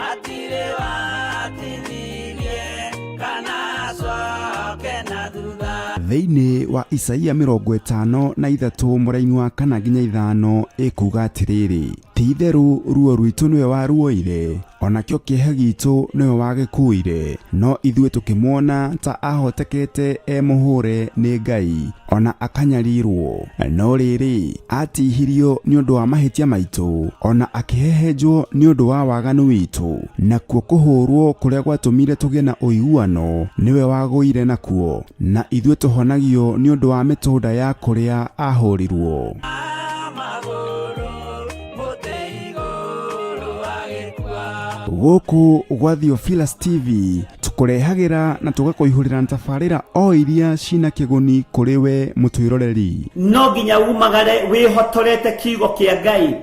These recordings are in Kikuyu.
hatirĩ watinirie kana acoke na thutha thĩinĩ wa isaia mĩrongo ĩtano na ithatũ mũraini wa kana nginya ithano ĩkuga atĩrĩrĩ ti itherũ ruo rwitũ nĩwe waruoire onakĩo kĩeha gitũ nĩwe wagĩkuire no ithuĩ tũkĩmuona ta ahotekete e mũhũre nĩ ngai ona akanyarirwo, no rĩrĩ, aatihirio nĩ ũndũ wa mahĩtia maitũ, ona akĩhehenjwo nĩ ũndũ wa waganu witũ, nakuo kũhũũrwo kũrĩa gwatũmire tũgĩe na ũiguano nĩwe wagũire nakuo, na ithuĩ tũhonagio nĩ ũndũ wa mĩtũnda ya kũrĩa aahũũrirwo. gũkũ gwa Theophilus TV tũkũrehagĩra na tũgakũihũrĩra na tabarĩra o iria cina kĩguni kũrĩ we mũtwĩroreri no nginya umagare wĩhotorete kiugo kĩa ngai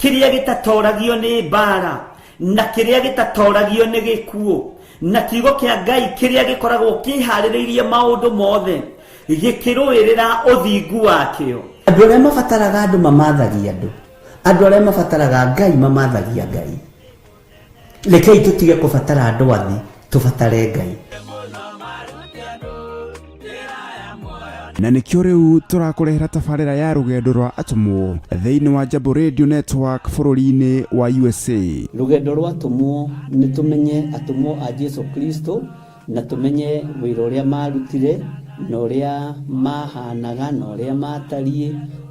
kĩrĩa gĩtatoragio nĩ mbaara na kĩrĩa gĩtatoragio nĩ gĩkuũ na kiugo kĩa ngai kĩrĩa gĩkoragwo kĩharĩrĩirie maũndũ mothe gĩkĩrũĩrĩra ũthingu wakĩo andũ arĩa mabataraga andũ mamathagia andũ andũ arĩa mabataraga ngai mamathagia ngai rekei tũtige kũbatara andũ athĩ tũbatare ngai na nĩkĩo rĩu tũrakũrehera tabarĩra ya rũgendo rwa atũmwo thĩinĩ wa Jambo Radio Network bũrũri-inĩ wa USA rũgendo rwa atũmwo nĩ tũmenye atũmwo a jesu kristo na tũmenye wĩra ũrĩa marutire na ũrĩa mahanaga na ũrĩa matariĩ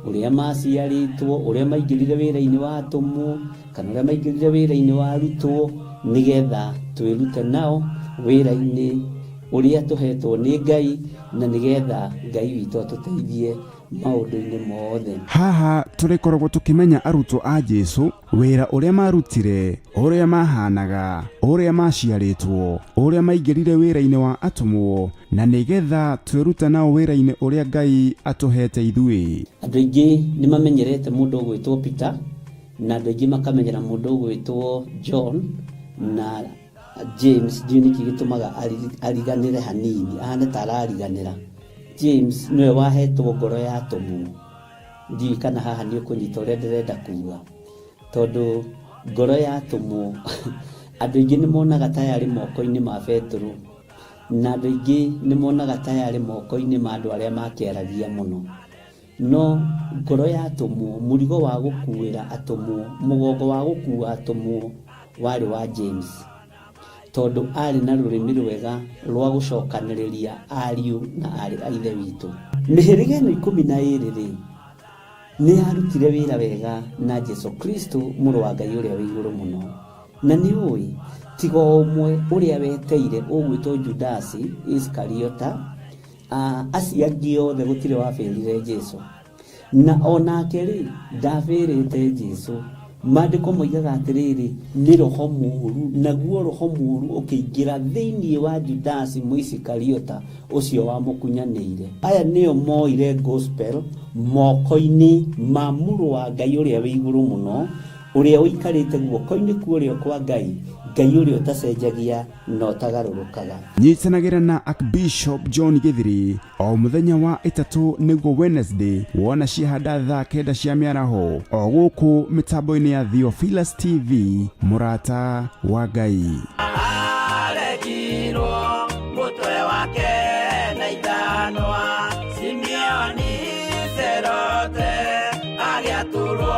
ũrĩa maciarĩtwo ũrĩa maingĩrire wĩra-inĩ wa atũmwo kana ũrĩa maingĩrire wĩra-inĩ wa arutwo nĩgetha twĩrute nao wĩra-inĩ Ũrĩa tũhetwo nĩ Ngai na nĩ getha Ngai witũ atũteithie maũndũ-inĩ mothe. Haha tũrĩkoragwo tũkĩmenya arutwo a Jesu, wĩra ũrĩa maarutire, ũrĩa mahaanaga, ũrĩa maaciarĩtwo, ũrĩa maingĩrire wĩra-inĩ wa atũmwo, na nĩ getha twĩrute nao wĩra-inĩ ũrĩa Ngai atũhete ithuĩ. Andũ aingĩ nĩ mamenyerete mũndũ ũgwĩtwo Peter, na andũ aingĩ makamenyera mũndũ ũgwĩtwo John, na. James ndiũĩ nĩkĩ gĩtũmaga ari- ariganĩre hanini ahane ta arariganĩra James nĩwe wahetwo ngoro ya tũmũ ndiũĩ kana haha nĩ ũkũnyita ũrĩa ndĩrenda kuga tondũ ngoro ya tũmũ andũ aingĩ nĩ monaga ta yarĩ moko-inĩ ma Petero na andũ aingĩ nĩ monaga ta yarĩ moko-inĩ ma andũ arĩa makĩaragia mũno No ngoro ya atũmwo, mũrigo wa gũkuuĩra atũmwo, mũgongo wa gũkuua atũmwo warĩ wa James, tondũ aarĩ na rũrĩmĩ rwega rwa gũcokanĩrĩria ariũ na aarĩ a Ithe witũ. Mĩhĩrĩga ĩno ikũmi na ĩĩrĩ-rĩ, nĩ yarutire wĩra wega na Jesu Kristo, Mũrũ wa Ngai Ũrĩa wĩ Igũrũ Mũno. Na nĩ ũĩ, tiga o ũmwe ũrĩa weteire, ũgwĩtwo Judasi Isikariota, A- acio angĩ othe gũtirĩ wabĩrire jesu na o nake rĩ ndabĩrĩte jesu maandĩko moigaga atĩrĩrĩ nĩ roho mũũru naguo roho mũũru ũkĩingĩra thĩinĩ wa judasi mũisikariota ũcio wamũkunyanĩire aya nĩo moire gospel moko-inĩ ma mũrũ wa ngai ũrĩa wĩ igũrũ mũno ũrĩa ũikarĩte guoko-inĩ kwa ũrĩo kwa ngai ngai ũrĩa ũtacenjagia na ũtagarũrũkaga. nyitanagĩra na Archbishop John Githiri o mũthenya wa ĩtatũ nĩguo Wednesday wona ciahanda thaa kenda cia mĩaraho o gũkũ mĩtambo-inĩ ya Theophilus TV mũrata wa Ngai aregirwo mũtwe wake na ithanwa simeoni zerote agĩatũrwo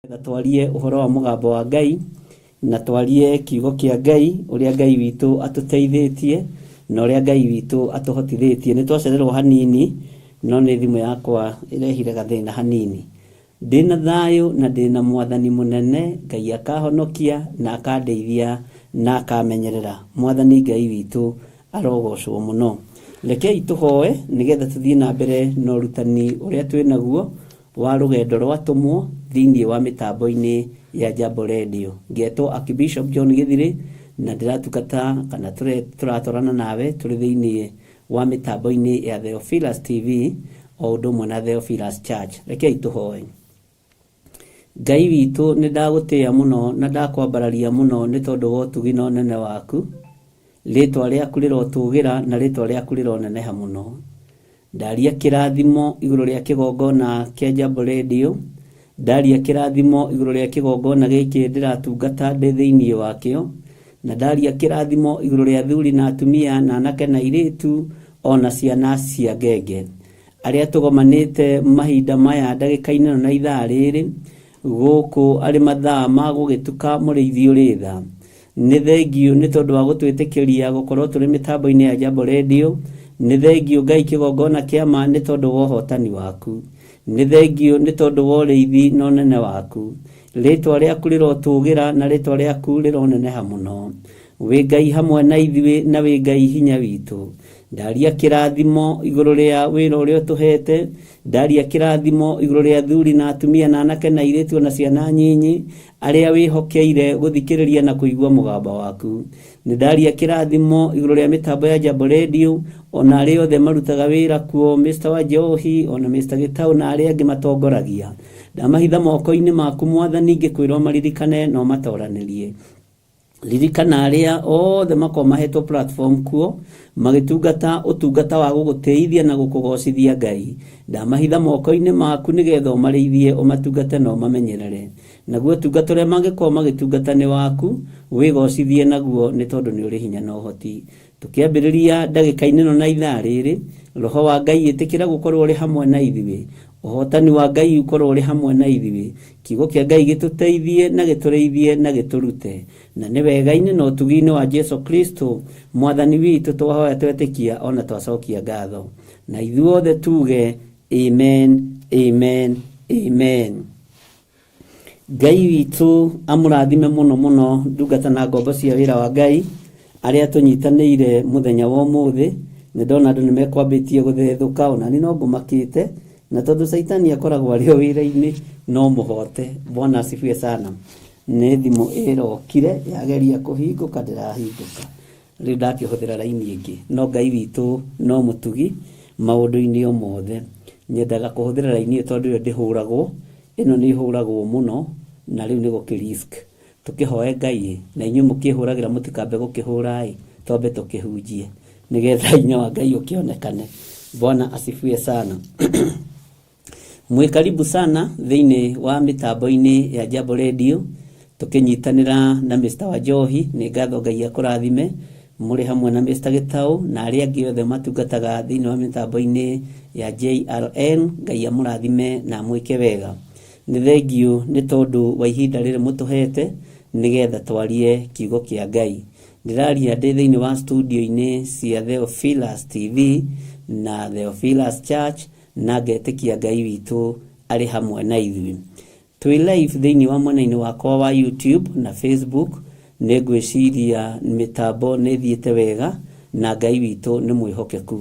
getha twarie ũhoro wa mũgambo wa ngai na twarie kiugo kĩa ngai ũrĩa ngai witũ atũteithĩtie na ũrĩa ngai witũ atũhotithĩtie nĩ twacererwo hanini no nĩ thimũ yakwa ĩrehire gathĩna hanini ndĩna thayũ na ndĩna mwathani mũnene ngai akahonokia na akandeithia na akamenyerera mwathani ngai witũ arogocwo mũno rekei tũhoe nĩgetha tũthiĩ na mbere na ũrutani ũrĩa twĩ naguo wa rũgendo rwa atũmwo thĩinĩ wa mĩtambo-inĩ ya Jambo Radio. Ngetwo Archbishop John Gĩthirĩ na ndĩratungata kana tũre- tũratwarana nawe tũrĩ thĩinĩ wa mĩtambo-inĩ ya Theophilus TV o ũndũ ũmwe na Theophilus Church. Rekei tũhoe. Ngai witũ nĩ ndagũtĩĩa mũno na ndakwambararia mũno nĩ tondũ wa ũtugi na ũnene waku. Rĩĩtwa rĩaku rĩrotũũgĩra na rĩĩtwa rĩaku rĩroneneha mũno. Ndaria kĩrathimo igũrũ rĩa kĩgongona kĩa Njambo Radio. Ndaria kĩrathimo igũrũ rĩa kĩgongona gĩkĩ ndĩratungata ndĩ thĩinĩ wakĩo. Na ndaria kĩrathimo igũrũ rĩa athuri na atumia na anake na airĩtu o na ciana cia ngenge. Arĩa tũgomanĩte mahinda maya ndagĩka-inĩ ĩno na ithaa rĩrĩ, Gũkũ arĩ mathaa ma gũgĩtuka mũrĩithi ũrĩ tha. Nĩ thengiũ nĩ tondũ wa gũtwĩtĩkĩria gũkorwo tũrĩ mĩtambo-inĩ ya Jambo Radio. Nĩ thengiũ Ngai kĩgongona kĩa ma nĩ tondũ wa ũhotani waku. Nĩ thengiũ nĩ tondũ wa ũrĩithi na ũnene waku. Rĩtwa rĩaku rĩrotũgĩra na rĩtwa rĩaku rĩroneneha mũno. Wĩ Ngai hamwe na ithuĩ na wĩ Ngai hinya witũ. Ndaria kĩrathimo igũrũ rĩa wĩra ũrĩa ũtũhete Ndaria kĩrathimo igũrũ rĩa athuri na atumia na anake na airĩtu na ciana nyinyi arĩa wĩhokeire gũthikĩrĩria na kũigua mũgamba waku. Nĩ ndaria kĩrathimo igũrũ rĩa mĩtambo ya Jambo Radio ona arĩa othe marutaga wĩra kuo Mr. Wanjohi ona Mr. Gĩtaũ na arĩa angĩ matongoragia. Ndamahitha moko-inĩ maku mwathani ngĩkwĩra ũmaririkane na ũmatoranĩrie. ririkana arĩa othe makorwo mahetwo platform kuo magĩtungata ũtungata wa gũgũteithia na gũkũgocithia ngai ndamahitha moko-inĩ maku nĩgetha ũmarĩithie ũmatungate na ũmamenyerere naguo ũtungata ũrĩa mangĩkorwo magĩtungata nĩ waku wĩgocithie naguo nĩ tondũ nĩ ũrĩ hinya na ũhoti Tũkĩambĩrĩria ndagĩka-inĩ ĩno na ithaa rĩrĩ, Roho wa Ngai ĩtĩkĩra gũkorwo ũrĩ hamwe na ithuĩ. Ũhotani wa Ngai ũkorwo ũrĩ hamwe na ithuĩ. Kiugo kĩa Ngai gĩtũteithie na gĩtũrĩithie na gĩtũrute. Na nĩ wega-inĩ na ũtugi-inĩ wa Jesu Kristo, Mwathani witũ, twahoya twetĩkia o na twacokia ngatho. Na ithuothe tuuge, Amen, Amen, Amen. Ngai witũ amũrathime mũno mũno ndungata na ngombo cia wĩra wa Ngai arĩa tũnyitanĩire mũthenya wa ũmũthĩ. Nĩ ndona andũ nĩ mekwambĩtie gũthethũka, ona niĩ no ngũmakĩte, na tondũ caitani akoragwo arĩ o wĩra-inĩ no mũhote. Bwana asifiwe sana. Nĩ thimũ ĩrokire yageria kũhingũka ndĩrahingũka. Rĩu ndakĩhũthĩra raini ĩngĩ. No Ngai witũ no mũtugi maũndũ-inĩ o mothe. Nyendaga kũhũthĩra raini ĩyo tondũ ĩyo ndĩhũragwo, ĩno nĩ ĩhũragwo mũno na rĩu nĩ gũkĩ risk. Tũkĩhoe Ngai ĩ, na inyuĩ mũkĩhũragĩra mũtikambe gũkĩhũra ĩ, twambe tũkĩhunjie nĩgetha hinya wa Ngai ũkĩonekane. Bwana asifiwe sana. mwĩ karibu sana thĩinĩ wa mĩtambo-inĩ ya jambo redio tũkĩnyitanĩra na mr wanjohi nĩ ngatho ngai akũrathime mũrĩ hamwe na mr gĩtaũ na arĩa angĩ othe matungataga thĩinĩ wa mĩtambo-inĩ ya jrn ngai amũrathime na mwĩke wega nĩ thengiũ nĩ tondũ wa ihinda rĩrĩ mũtũhete nĩgetha twarie kiugo kĩa ngai ndĩraria ndĩ thĩinĩ wa studio-inĩ cia theophilus tv na theophilus church na ngetĩkia Ngai witũ arĩ hamwe na ithuĩ. Twĩ live thĩinĩ wa mwena-inĩ wakwa wa YouTube na Facebook, nĩ ngwĩciria mĩtambo nĩ ĩthiĩte wega na Ngai witũ nĩ mwĩhokeku.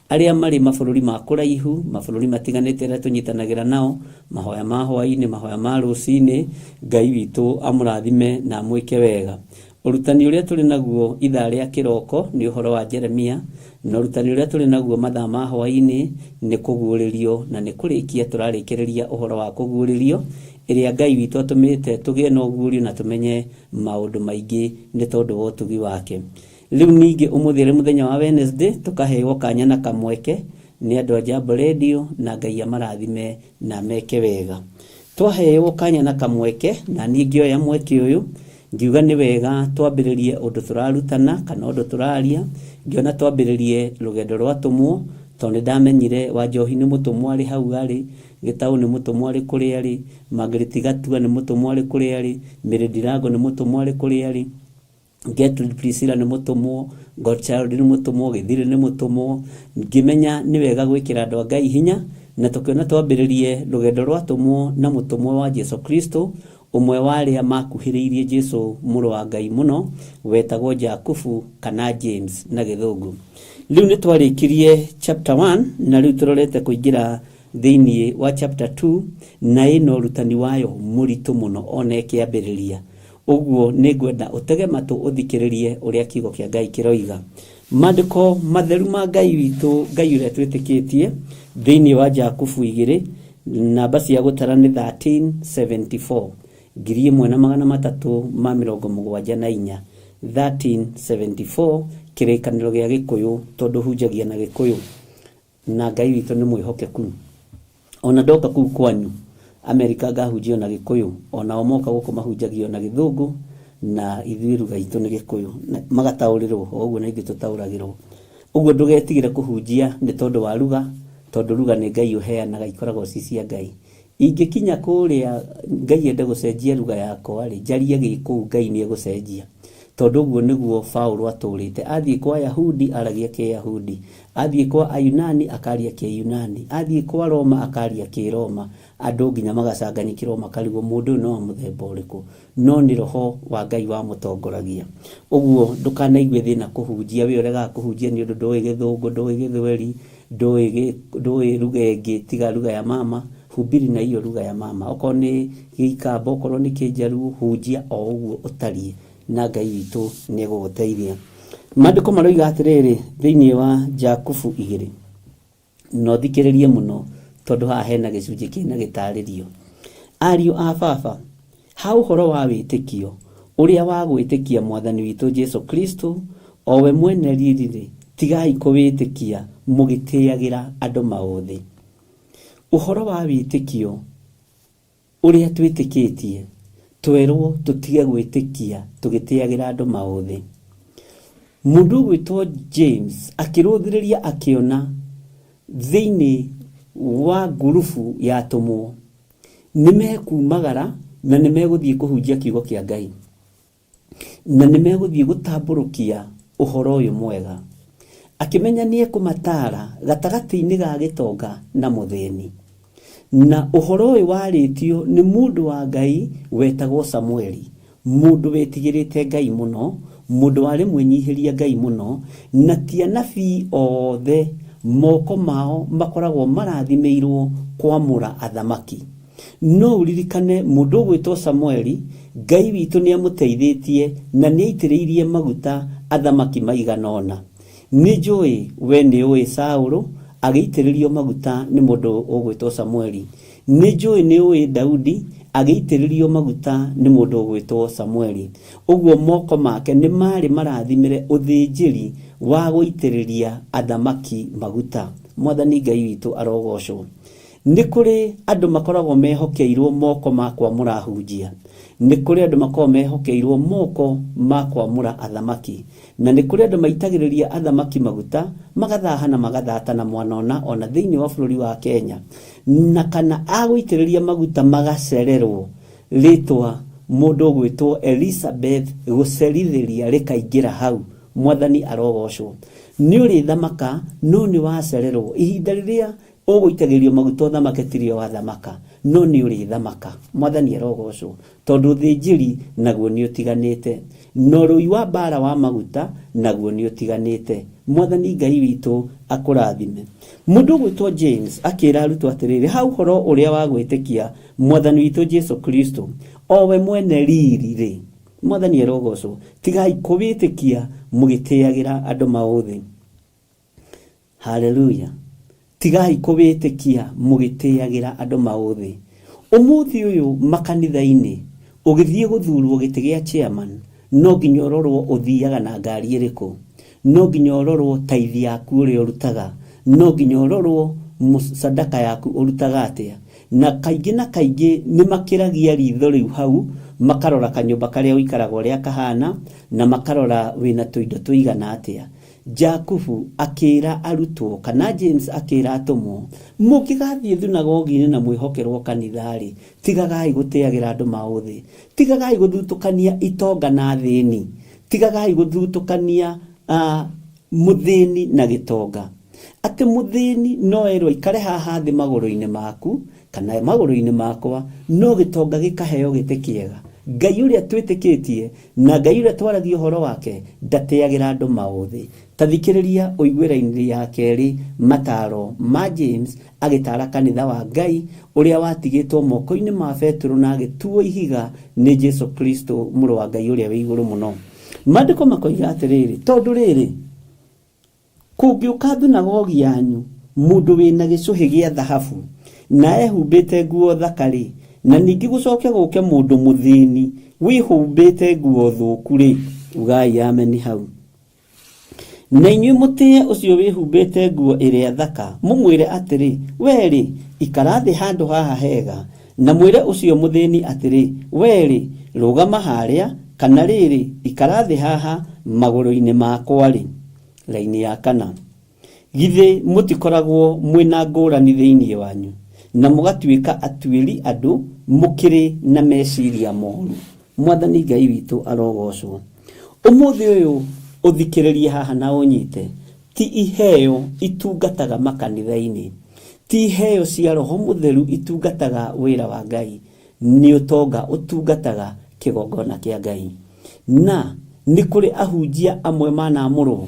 Arĩa marĩ mabũrũri ma kũraihu, mabũrũri matiganĩte arĩa tũnyitanagĩra nao, mahoya ma hwainĩ, mahoya ma rũcinĩ, Ngai witũ amũrathime na amwĩke wega. Ũrutani ũrĩa tũrĩ naguo ithaa rĩa kĩroko nĩ ũhoro wa Jeremia, na ũrutani ũrĩa tũrĩ naguo mathaa ma hwaĩ-inĩ nĩ kũguũrĩrio, na nĩ kũrĩkia tũrarĩkĩrĩria ũhoro wa kũguũrĩrio, ĩrĩa Ngai witũ atũmĩte tũgĩe na ũguũrio na tũmenye maũndũ maingĩ nĩ tondũ wa ũtugi wake. Rĩu ningĩ ũmũthĩ arĩ mũthenya wa Wednesday, tũkaheo kanya na kamweke nĩ andũ a Jambo Radio, na Ngai amarathime na ameke wega. Twaheo kanya na kamweke, na niĩ ngĩoya mweke ũyũ, ngiuga nĩ wega twambĩrĩrie ũndũ tũrarutana kana ũndũ tũraria ngĩona twambĩrĩrie rũgendo rwatũmwo tondũ nĩ ndamenyire wanjohi nĩ mũtũmwo arĩ hau arĩ gĩtaũ nĩ mũtũmwo arĩ kũrĩa arĩ mangiriti gatua nĩ mũtũmwo arĩ kũrĩa arĩ mĩrĩ ndirango nĩ mũtũmwo arĩ kũrĩa arĩ Gertrude Priscilla nĩ mũtũmwo Godchild nĩ mũtũmwo Gĩthirĩ nĩ mũtũmwo ngĩmenya nĩ wega gwĩkĩra andũ a Ngai hinya na tũkĩona twambĩrĩrie rũgendo rwatũmwo na mũtũmwo wa Jesu Kristo Ũmwe wa arĩa maakuhĩrĩirie Jesu Mũrũ wa Ngai mũno wetagwo Jakubu, kana James na Gĩthũngũ. Rĩu nĩ twarĩkirie Chapter One, na rĩu tũrorete kũingĩra thĩinĩ wa Chapter Two, na ĩna ũrutani wayo mũritũ mũno o na ĩkĩambĩrĩria. Ũguo nĩ ngwenda ũtege matũ ũthikĩrĩrie ũrĩa Kiugo kĩa Ngai kĩroiga. Maandĩko matheru ma Ngai witũ, Ngai ũrĩa twĩtĩkĩtie, thĩinĩ wa Jakubu igĩrĩ, namba cia gũtara nĩ 1374 ngiri ĩmwe na magana matatũ ma mĩrongo mũgwanja na inya 1374 kĩrĩkanĩro gĩa gĩkũyũ tondũ hunjagia na gĩkũyũ Na Ngai witũ nĩ mwĩhokeku. O na ndoka kũu kwanyu Amerika ngahunjio na Gĩkũyũ, o nao moka gũkũ mahunjagio na Gĩthũngũ, na ithuĩ lugha itũ nĩ Gĩkũyũ. Na magataũrĩrwo o ũguo na ithuĩ tũtaũragĩrwo. Ũguo ndũgetigĩre kũhunjia nĩ tondũ wa lugha, tondũ lugha nĩ Ngai ũheanaga, ikoragwo ci cia Ngai. Ingĩkinya kũrĩa Ngai ende gũcenjia ruga yakwa-rĩ, njarie Gĩkũũ Ngai nĩegũcenjia. Tondũ ũguo nĩguo Paulo atũũrĩte. Athiĩ kwa Ayahudi aragia Kĩyahudi. Athiĩ kwa Ayunani akaria Kĩyunani. Athiĩ kwa Roma akaria Kĩroma. Andũ nginya magacanganyĩkĩrwo makarigwo mũndũ ũyũ nĩ wa mũthemba ũrĩkũ. No nĩ roho wa Ngai wamũtongoragia. Ũguo ndũkanaigue thĩna kũhunjia. We ũregaga kũhunjia nĩ ũndũ ndũũĩ Gĩthũngũ, ndũũĩ Gĩthweri, ndũũĩ ndũũĩ ruga ĩngĩ tiga ruga ya mama, hubiri na hiyo ruga ya mama. Okorwo nĩ Gĩikamba, okorwo nĩ Kĩjaruo, hunjia o ũguo ũtariĩ na Ngai witũ nĩ egũgũteithia. Maandĩko maroiga atĩrĩrĩ thĩinĩ wa Jakubu igĩrĩ. na ũthikĩrĩrie mũno tondũ haha hena gĩcunjĩ kĩna gĩtarĩrio ariũ a baba ha ũhoro wa wĩtĩkio ũrĩa wa gwĩtĩkia mwathani witũ jesu kristo o we mwene riri-rĩ tigai kũwĩtĩkia mũgĩtĩagĩra andũ maũthĩ ũhoro wa wĩtĩkio Ũrĩa twĩtĩkĩtie, twerwo tũtige gwĩtĩkia tũgĩtĩagĩra andũ maũthĩ. Mũndũ ũgwĩtwo James akĩrũthĩrĩria akĩona thĩinĩ wa ngurubu ya atũmwo, nĩmekumagara na nĩmegũthiĩ kũhunjia kiugo kĩa Ngai. na nĩ megũthiĩ gũtambũrũkia ũhoro ũyũ mwega. Akĩmenya nĩ ekũmataara gatagatĩ-inĩ ga gĩtonga na mũthĩni. Na ũhoro ũyũ warĩtio nĩ mũndũ wa Ngai wetagwo Samueli, mũndũ wetigĩrĩte Ngai mũno, mũndũ warĩ mwĩnyihĩria Ngai mũno, na ti anabii othe moko mao makoragwo marathimĩirwo kwamũra athamaki. No ũririkane mũndũ ũgwĩtwo Samueli, Ngai witũ nĩ amũteithĩtie na nĩ aitĩrĩirie maguta athamaki maigana ũna. Nĩ njũĩ wee nĩ ũĩ Saũlũ agĩitĩrĩrio maguta nĩ mũndũ ũgwĩtwo Samueli. Nĩ njũĩ nĩ ũĩ Daudi agĩitĩrĩrio maguta nĩ mũndũ ũgwĩtwo Samueli. Ũguo moko make nĩ maarĩ marathimĩre ũthĩnjĩri wa gũitĩrĩria athamaki maguta. Mwathani Ngai witũ arogoocwo! Nĩ kũrĩ andũ makoragwo mehokeirũo moko ma kwamũra ahunjia, nĩ kũrĩ andũ makoragwo mehokeirũo moko ma kwamũra athamaki, na nĩ kũrĩ andũ maitagĩrĩria athamaki maguta magathaha na magathata na mwana ũna o na thĩinĩ wa bũrũri wa Kenya, na kana a gũitĩrĩria maguta magacererũo, rĩtwa mũndũ ũgwĩtwo Elisabeth gũcerithĩria rĩkaingĩra hau, Mwathani arogocwo. Nĩ ũrĩthamaka, no nĩ wacererũo. Ihinda rĩrĩa Ũgũitagĩrĩrio maguta ũthamake ti rĩo wathamaka, no nĩ ũrĩthamaka. Mwathani arogoocwo, tondũ ũthĩnjĩri naguo nĩ ũtiganĩte, na ũrũi wa mbaara wa maguta naguo nĩ ũtiganĩte. Mwathani Ngai witũ akũrathime. Mũndũ ũgwĩtwo James akĩĩra arutwo atĩrĩrĩ, Ha ũhoro ũrĩa wa gwĩtĩkia Mwathani witũ Jesu Kristo, o we mwene riiri-rĩ, Mwathani arogoocwo, tigaai kũwĩtĩkia mũgĩtĩĩagĩra andũ maũthĩ. Haleluya! Tigai kũwĩtĩkia mũgĩtĩagĩra andũ maũthĩ. Ũmũthĩ ũyũ makanitha-inĩ ũgĩthiĩ gũthurwo gĩtĩ gĩa chairman no nginya ũrorwo ũthiaga na ngari ĩrĩkũ, no nginya ũrorwo tithe yaku ũrĩa ũrutaga, no nginya ũrorwo sadaka yaku ũrutaga atĩa. Na kaingĩ na kaingĩ nĩmakĩragia ritho rĩu hau makarora kanyũmba karĩa ũikaraga ũrĩa kahana na makarora wĩna tũindo tũigana atĩa. Jakubu akĩĩra arutwo, kana James akĩĩra atũmwo, Mũngĩgaathiĩ thunagogi-inĩ na mwĩhokerwo kanitha-rĩ, tigagaai gũtĩagĩra andũ maũthĩ. Tigagaai gũthutũkania itonga na athĩĩni. Tigagaai gũthutũkania mũthĩĩni na gĩtonga, atĩ mũthĩĩni no eerwo aikare haha thĩ magũrũ-inĩ maku, kana magũrũ-inĩ makwa, no gĩtonga gĩkaheo gĩtĩ kĩega. Ngai ũrĩa twĩtĩkĩtie na Ngai ũrĩa twaragia ũhoro wake ndatĩagĩra andũ maũthĩ. Ta thikĩrĩria ũigue raini ya kerĩ mataaro ma James agĩtaara kanitha wa Ngai ũrĩa watigĩtwo moko-inĩ ma Petero na agĩtuwo ihiga nĩ Jesu Kristo, Mũrũ wa Ngai Ũrĩa wĩ Igũrũ Mũno. Maandĩko makoiga atĩrĩrĩ, Tondũ rĩrĩ, Kũngĩũka thunagogi yanyu mũndũ wĩ na gĩcũhĩ gĩa thahabu, na ehumbĩte nguo thaka-rĩ, na ningĩ gũcoke gũke mũndũ mũthĩni wĩhumbĩte nguo thũku-rĩ, ugai Ameni hau. Na inyuĩ mũtĩĩe ũcio wĩhumbĩte nguo ĩrĩa thaka, mũmwĩre atĩrĩ, Wee-rĩ, ikara thĩ handũ haha hega, Na mwĩre ũcio mũthĩĩni atĩrĩ, Wee-rĩ, rũgama haarĩa, kana rĩrĩ, ikara thĩ haha magũrũ-inĩ makwa-rĩ. Raini ya kana. Githĩ mũtikoragwo mwĩ na ngũũrani thĩinĩ wanyu, na mũgatuĩka atuĩri andũ mũkĩrĩ na meciria mooru? Mwathani Ngai witũ arogoocwo! Ũmũthĩ ũyũ ũthikĩrĩrie haha na ũnyite, Ti iheo itungataga makanitha-inĩ. Ti iheo cia Roho Mũtheru itungataga wĩra wa Ngai. Nĩ ũtonga ũtungataga kĩgongona kĩa Ngai. Na nĩ kũrĩ ahunjia amwe manamũrwo,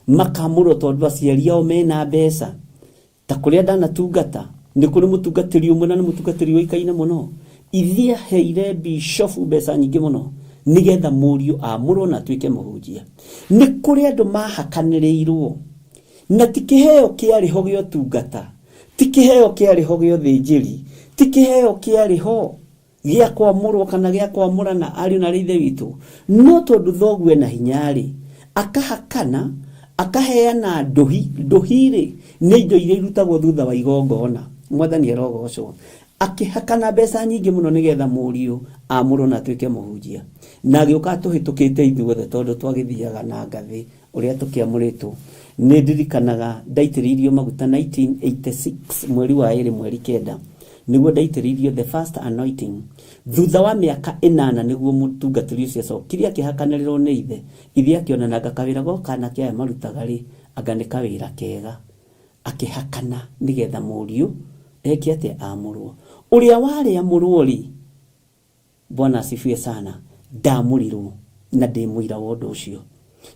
makamũrwo tondũ aciari ao mena mbeca. Ta kũrĩa ndanatungata, nĩ kũrĩ mũtungatĩri ũmwe na nĩ mũtungatĩri ũĩkaine mũno. Ithe aheire bishofu mbeca nyingĩ mũno nĩgetha mũriũ amũrwo na atuĩke mũhunjia. Nĩ kũrĩ andũ mahakanĩrĩirwo na ti kĩheo kĩarĩ ho gĩa ũtungata, ti kĩheo kĩarĩ ho gĩa ũthĩnjĩri, ti kĩheo kĩarĩ ho. gĩa kwamũrwo kana gĩa kwamũrana ariũ na arĩ ithe witũ, no tondũ thoguo ena hinya-rĩ, akahakana, akaheana ndũhi. Ndũhi-rĩ, nĩ indo iria irutagwo thutha wa igongona. Mwathani arogoocwo. Akĩhakana mbeca nyingĩ mũno nĩ getha mũriũ amũrwo na atuĩke mũhunjia. Na agĩũka atũhĩtũkĩte ithuothe tondũ twagĩthiaga na ngathĩ ũrĩa tũkĩamũrĩtwo. Nĩ ndirikanaga ndaitĩrĩirio maguta 1986 mweri wa ĩrĩ mweri kenda nĩguo ndaitĩrĩirio the first anointing. Thutha wa mĩaka ĩnana nĩguo mũtungatĩri ũcio acokire akĩhakanĩrĩrwo nĩ ithe. Ithe akĩonana anga kawĩra go kana ke aya marutaga rĩ anga nĩ kawĩra kega. Akĩhakana nĩgetha mũriũ eke atĩa? Amũrwo. Ũrĩa warĩ amũrwo rĩ, Bwana asifiwe sana. Ndaamurirwo na ndĩ mũira wa ũndũ ũcio,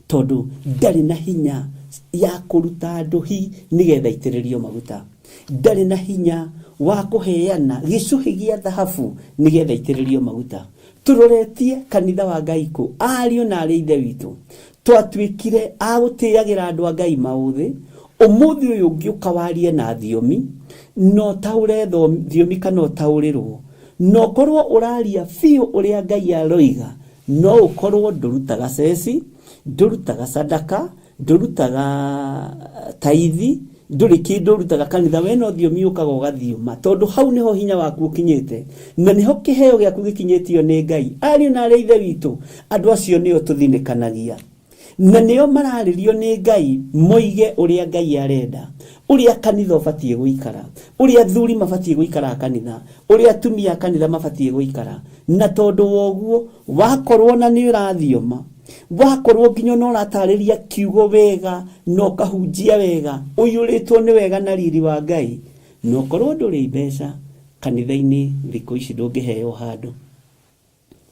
tondũ ndarĩ na hinya ya kũruta ndũhi nĩgetha itĩrĩrio maguta. Ndarĩ na hinya wa kũheana gĩcũhĩ gĩa thahabu nĩgetha itĩrĩrio maguta. Tũroretie kanitha wa Ngai kũ? Aariũ na aarĩ a Ithe witũ, Twatuĩkire a gũtĩagĩra andũ a Ngai maũthĩ, ũmũthĩ ũyũ ũngĩũka warie na thiomi, na ũtaũre thiomi kana ũtaũrĩrwo, na ũkorwo ũraria biũ ũrĩa Ngai aroiga, no ũkorwo ndũrutaga ceci, ndũrutaga sadaka, ndũrutaga tithe. Ndũrĩ kĩndũ ũrutaga kanitha, we no thiomi ũkaga ũgathioma, tondũ hau nĩho hinya waku ũkinyĩte, na nĩho kĩheo gĩaku gĩkinyĩtio nĩ Ngai. Ariũ na aarĩ a Ithe witũ, andũ acio nĩo tũthinĩkanagia, na nĩo mararĩrio nĩ Ngai moige ũrĩa Ngai arenda, ũrĩa kanitha ũbatiĩ gũikara, ũrĩa athuri mabatiĩ gũikara a kanitha, ũrĩa atumia a kanitha mabatiĩ gũikara, na tondũ wa ũguo, wakorwo na nĩ ũrathioma, Wakorwo nginya ona ũratarĩria kiugo wega na ũkahunjia wega ũiyũrĩtwo nĩ wega na riri wa Ngai, na ũkorwo ndũrĩ mbeca kanitha-inĩ thikũ ici ndũngĩheo handũ.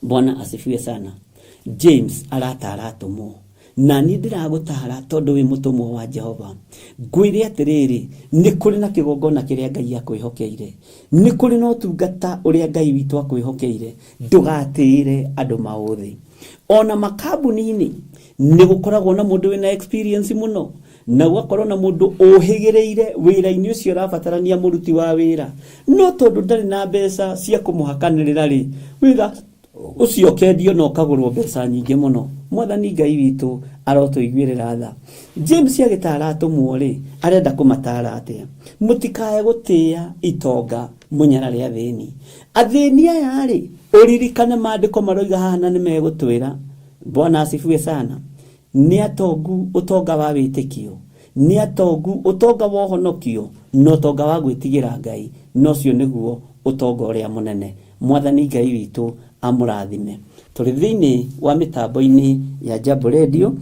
Bwana asifiwe sana. James arataara atũmwo, na niĩ ndĩragũtaara tondũ wĩ mũtũmwo wa Jehova, ngwĩre atĩrĩrĩ, nĩ kũrĩ na kĩgongona kĩrĩa Ngai akwĩhokeire, nĩ kũrĩ na ũtungata ũrĩa Ngai witũ akwĩhokeire. ndũgatĩĩre andũ maũthĩ ona makambuni-inĩ nĩ gũkoragwo na mũndũ wĩna experience mũno na gũgakorwo na mũndũ ũhĩgĩrĩire wĩra-inĩ ũcio ũrabatarania mũruti wa wĩra no tondũ ndarĩ na mbeca cia kũmũhakanĩrĩra rĩ wĩra ũcio ũkendio na ũkagũrwo mbeca nyingĩ mũno mwathani Ngai witũ arotũiguĩrĩra tha James agĩtara atũmwo rĩ arenda kũmatara atĩa mũtikae gũtĩa itonga mũnyarare athĩni. Athĩni aya rĩ, ũririkane maandĩko maroiga haha na nĩmegũtwĩra bwana asifiwe sana nĩ atongu ũtonga wa wĩtĩkio nĩ atongu ũtonga wa ũhonokio na ũtonga wa gwĩtigĩra ngai na ũcio nĩguo ũtonga ũrĩa mũnene mwathani ngai witũ amũrathime tũrĩ thĩinĩ wa mĩtambo-inĩ ya jambo redio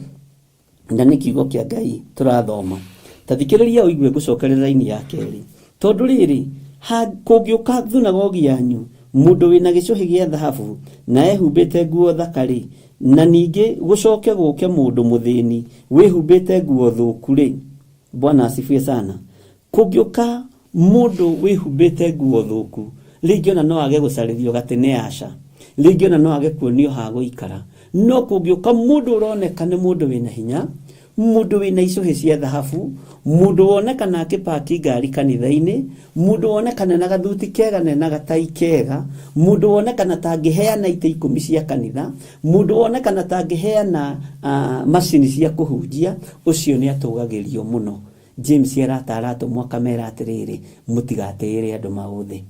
na nĩ kiugo kĩa ngai tũrathoma ta thikĩrĩria ũigue ngũcokerera raini ya kerĩ tondũ rĩrĩ ha- kũngĩũka thunagogi yanyu mũndũ wĩna gĩcũhĩ gĩa thahabu na ehumbĩte nguo thaka-rĩ na ningĩ gũcoke gũke mũndũ mũthĩni wĩhumbĩte nguo thũku-rĩ bwana asibue sana Kũngĩũka mũndũ wĩhumbĩte nguo thũku, rĩngĩ o na no age gũcarĩrio gatĩ nĩ aca, rĩngĩ o na no age kuonio ha gũikara. No kũngĩũka mũndũ ũroneka nĩ mũndũ wĩ na hinya, mũndũ wĩ na icũhĩ cia thahabu, mũndũ wonekana akĩpaki ngari kanitha-inĩ, mũndũ wonekana ena gathuti kega na ena gatai kega, mũndũ wonekana ta angĩheana itĩ ikũmi cia kanitha, mũndũ wonekana ta angĩheana macini cia kũhunjia, ũcio nĩ atũgagĩrio mũno. James arataara atũmwo akameera atĩrĩrĩ, Mũtigatĩĩre andũ maũthĩ.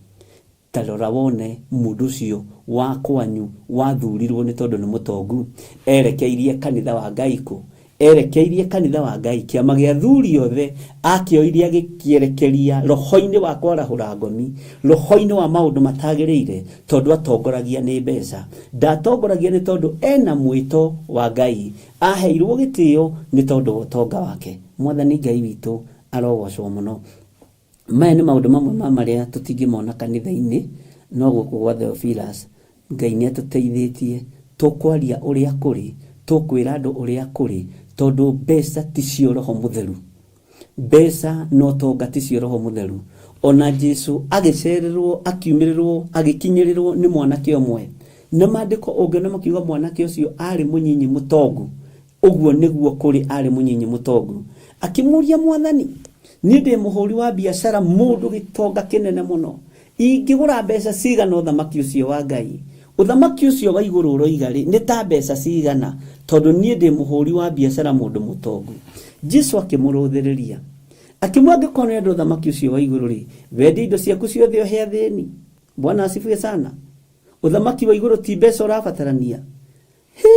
Ta rora wone mũndũ ũcio wa kwanyu wathuurirwo nĩ tondũ nĩ mũtongu, eerekeirie kanitha wa Ngai kũ? Eerekeirie kanitha wa Ngai. Kĩama gĩa athuuri othe aakĩoire agĩkĩerekeria roho-inĩ wa kwarahũra ngomi, roho-inĩ wa maũndũ mataagĩrĩire, tondũ atongoragia nĩ mbeeca. Ndaatongoragia nĩ tondũ ena mwĩto wa Ngai, Aaheirwo gĩtĩo nĩ tondũ wa ũtonga wake. Mwathani Ngai witũ arogoocwo mũno. Maya nĩ maũndũ mamwe ma marĩa tũtingĩmona kanitha-inĩ, no gũkũ gwa Theophilus, Ngai nĩ atũteithĩtie. Tũkwaria ũrĩa kũrĩ, tũkwĩra andũ ũrĩa kũrĩ, tondũ mbeca ti cio Roho Mũtheru. Mbeca no tonga ti cio Roho Mũtheru. O na Jesu agĩceererũo, akiumĩrĩrũo, agĩkinyĩrĩrũo nĩ mwanake ũmwe. Na Maandĩko ũngĩona makiuga mwanake ũcio aarĩ mũnyinyi mũtongu, ũguo nĩguo kũrĩ aarĩ mũnyinyi mũtongu. Akĩmũũria, Mwathani, niĩ ndĩ mũhũũri wa biacara, mũndũ gĩtonga kĩnene mũno. Ingĩgũra mbeeca ciigana ũthamaki ũcio wa Ngai? Ũthamaki ũcio wa igũrũ ũroiga-rĩ, nĩ ta mbeeca ciigana, tondũ niĩ ndĩ mũhũũri wa biacara mũndũ mũtongu? Jesu akĩmũrũũthĩrĩria, akĩmwĩra, Angĩkorwo nĩ wenda ũthamaki ũcio wa igũrũ-rĩ, wendie indo ciaku ciothe ũhe athĩĩni. Bwana asifiwe sana. Ũthamaki wa igũrũ ti mbeeca ũrabatarania. Hĩ!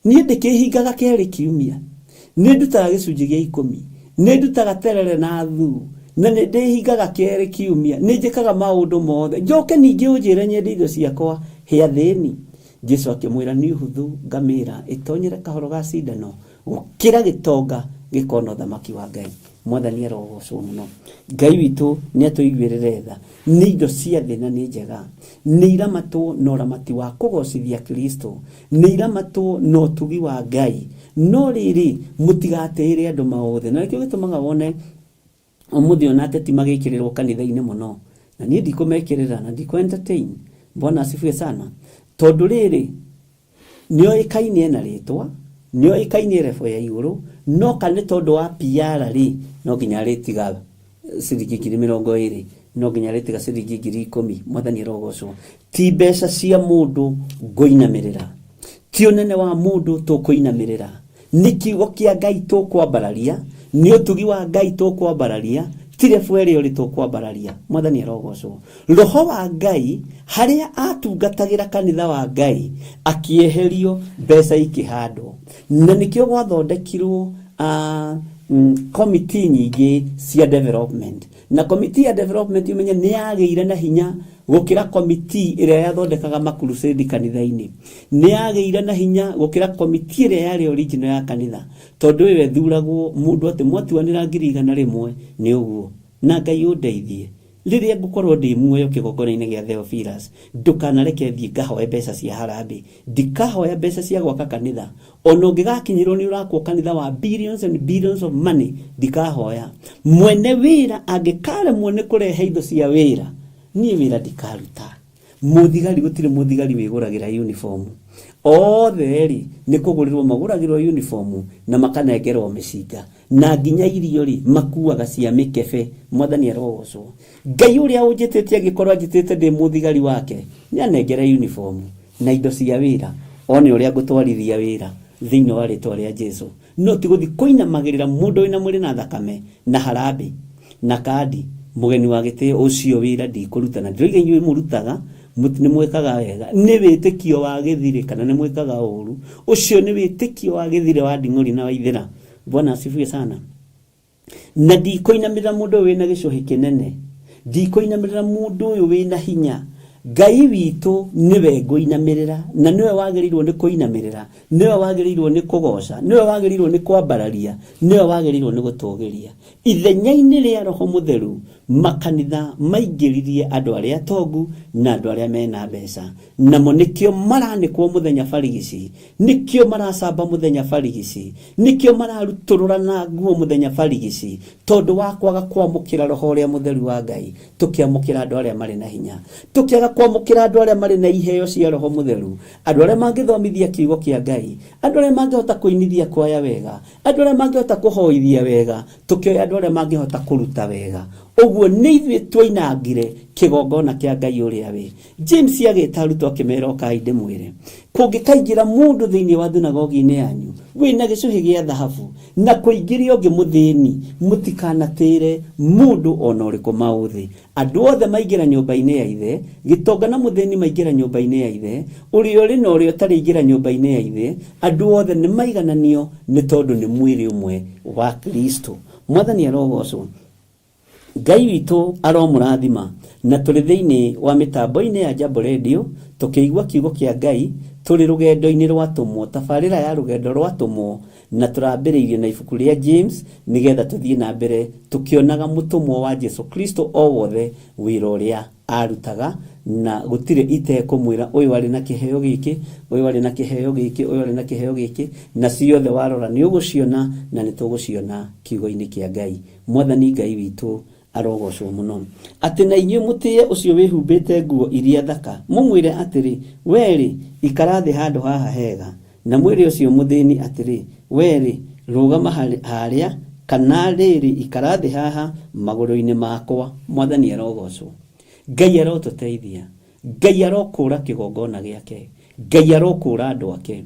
Niĩ ndĩkĩĩhingaga kerĩ kiumia. Nĩ ndutaga gĩcunjĩ gĩa ikũmi. Nĩ ndutaga terere na thu. Na nĩ ndĩĩhingaga kerĩ kiumia. Nĩ njĩkaga maũndũ mothe. Njoke ningĩ ũnjĩĩre nyendie indo ciakwa hĩ athĩĩni? Jesu akĩmwĩra, Nĩ ũhũthũ ngamĩĩra ĩtoonyere kahoro ga cindano gũkĩra gĩtonga gĩkoona Ũthamaki wa Ngai. Mwathani arogoocwo mũno. Ngai witũ nĩ atũiguĩrĩre tha. Nĩ indo cia thĩ na nĩ njega. Nĩ iramatwo na ũramati wa kũgoocithia Kristo, nĩ iramatwo na ũtugi wa Ngai. No rĩrĩ, mũtigatĩĩre andũ maũthĩ. Na nĩkĩo gĩtũmaga wone ũmũthĩ o na ateti magĩkĩrĩrwo kanitha-inĩ mũno. Na niĩ ndikũmekĩrĩra na ndikũ entertain. Bwana asifiwe sana. Tondũ rĩrĩ, Nĩoĩkaine ena rĩtwa, nĩoĩkaine level ya igũrũ, no kana nĩ tondũ wa PR rĩ, no nginya arĩtiga ciringi ngiri mĩrongo ĩrĩ, no nginya arĩtiga ciringi ngiri ikũmi, Mwathani arogocwo. Ti mbeca cia mũndũ ngũinamĩrĩra, ti ũnene wa mũndũ tũkũinamĩrĩra. Nĩ kiugo kĩa Ngai tũkwambararia, nĩ ũtugi wa Ngai tũkwambararia, ti rebuerĩorĩ tũkwambararia. Mwathani arogocwo. Roho wa Ngai harĩa atungatagĩra kanitha wa Ngai akĩeherio mbeca ikĩhandwo. Na nĩkĩo gwathondekirwo ah, mm, committee nyingĩ cia development. Na Komitii ya Development ũmenye nĩ yagĩire na hinya gũkĩra komitii ĩrĩa yathondekaga makurusĩndi kanitha-inĩ. Nĩ yagĩire na hinya gũkĩra komitii ĩrĩa yarĩ original ya kanitha, tondũ ĩyo ĩthuragwo mũndũ atĩ mwatuanĩra ngiri igana rĩmwe, nĩ ũguo. Na Ngai ũndeithie, rĩrĩa ngũkorũo ndĩ muoyo kĩgongona-inĩ gĩa Theophilus, ndũkanareke thiĩ ngahoe mbeca cia harambĩ. Ndikahoya mbeca cia gwaka kanitha, ona ũngĩgakinyĩrwo nĩ ũrakwo kanitha wa billions and billions of money ndikahoya mwene wĩra angĩkaremwo nĩ kũrehe indo cia wĩra niĩ wĩra ndikaruta mũthigari gũtirĩ mũthigari wĩgũragĩra uniform othe rĩ nĩ kũgũrĩrwo magũragĩrwo uniform na makanengerwo mĩcinga na nginya irio rĩ makuaga cia mĩkebe mwathani arogocwo ngai ũrĩa ũnjĩtĩte angĩkorwo anjĩtĩte ndĩ mũthigari wake nĩ anengere uniform na indo cia wĩra one ũrĩa ngũtwarithia wĩra thĩinĩ wa rĩtwa rĩa Jesu no ti gũthiĩ kũinamagĩrĩra mũndũ wĩna mwĩrĩ na thakame na harambĩ na kandi mũgeni wa gĩtĩo ũcio wĩra ndikũruta na ndiroiga inyuĩ mũrutaga nĩ mwĩkaga wega nĩ wĩtĩkio wa gĩthirĩ kana nĩ mwĩkaga ũru ũcio nĩ wĩtĩkio wa gĩthirĩ wa nding'ori na waithĩra bwana asifiwe sana Na ndikũinamĩrĩra mũndũ ũyũ wĩ na gĩcũhĩ kĩnene, ndikũinamĩrĩra mũndũ ũyũ wĩ na hinya. Ngai witũ nĩwe ngũinamĩrĩra, na nĩwe wagĩrĩirwo nĩ kũinamĩrĩra, nĩwe wagĩrĩirwo nĩ kũgooca, nĩwe wagĩrĩirwo nĩ kwambararia, nĩwe wagĩrĩirwo nĩ gũtũũgĩria. Ithenya-inĩ rĩa Roho Mũtheru, makanitha maingĩririe andũ arĩa atongu na andũ arĩa me na mbeca. Namo nĩkĩo maranĩkwo mũthenya barigici, nĩkĩo maracamba mũthenya barigici, nĩkĩo mararutũrũrana nguo mũthenya barigici, tondũ wa kwaga kwamũkĩra Roho ũrĩa Mũtheru wa Ngai, tũkĩamũkĩra andũ arĩa marĩ na hinya. Tũkĩaga kwamũkĩra andũ arĩa marĩ na iheo cia Roho Mũtheru, andũ arĩa mangĩthomithia Kiugo kĩa Ngai, andũ arĩa mangĩhota kũinithia kwaya wega, andũ arĩa mangĩhota kũhoithia wega, tũkĩoya andũ arĩa mangĩhota kũruta wega. Ũguo nĩ ithuĩ twainangire kĩgongona kĩa Ngai ũrĩa wĩ. James agĩĩta arutwo akĩmeera, Ũkai ndĩmwĩre, kũngĩkaingĩra mũndũ thĩinĩ wa thunagogi-inĩ yanyu wĩ na gĩcũhĩ gĩa thahabu, na kũingĩre ũngĩ mũthĩĩni, mũtikanatĩĩre mũndũ o na ũrĩkũ maũthĩ. Andũ othe maingĩra nyũmba-inĩ ya ithe, gĩtonga na mũthĩĩni maingĩra nyũmba-inĩ ya ithe, ũrĩa ũrĩ na ũrĩa ũtarĩ aingĩra nyũmba-inĩ ya ithe, andũ othe nĩ maigananio, nĩ tondũ nĩ mwĩrĩ ũmwe wa Kristo. Mwathani arogoocwo! Ngai witũ aromũrathima na tũrĩ thĩinĩ wa mĩtamboinĩ ya Jambo Radio tũkĩigua kiugo kĩa Ngai tũrĩ rũgendoinĩ rwatũmwo, tabarĩra ya rũgendo rwatũmwo na tũrambĩrĩirie na ibuku rĩa James nĩgetha tũthiĩ na mbere tũkĩonaga mũtũmwo wa Jesu Kristo o wothe wĩra ũrĩa arutaga na gũtirĩ itekũmwĩra ũyũ arĩ na kĩheo gĩkĩ, ũyũ arĩ na kĩheo gĩkĩ, ũyũ arĩ na kĩheo gĩkĩ na ciothe warora nĩũgũciona na nĩtũgũciona kiugoinĩ kĩa Ngai. Mwathani Ngai witũ arogoocwo mũno! Atĩ na inyuĩ mũtĩĩe ũcio wĩhumbĩte nguo iria thaka, mũmwĩre atĩrĩ, 'Wee-rĩ, ikara thĩ handũ haha hega, na mwĩre ũcio mũthĩĩni atĩrĩ, 'Wee-rĩ, rũgama haarĩa, kana rĩĩrĩ, ikara thĩ haha magũrũ-inĩ makwa! Mwathani arogoocwo! Ngai arotũteithia! Ngai arokũũra kĩgongona gĩake, Ngai arokũũra andũ ake,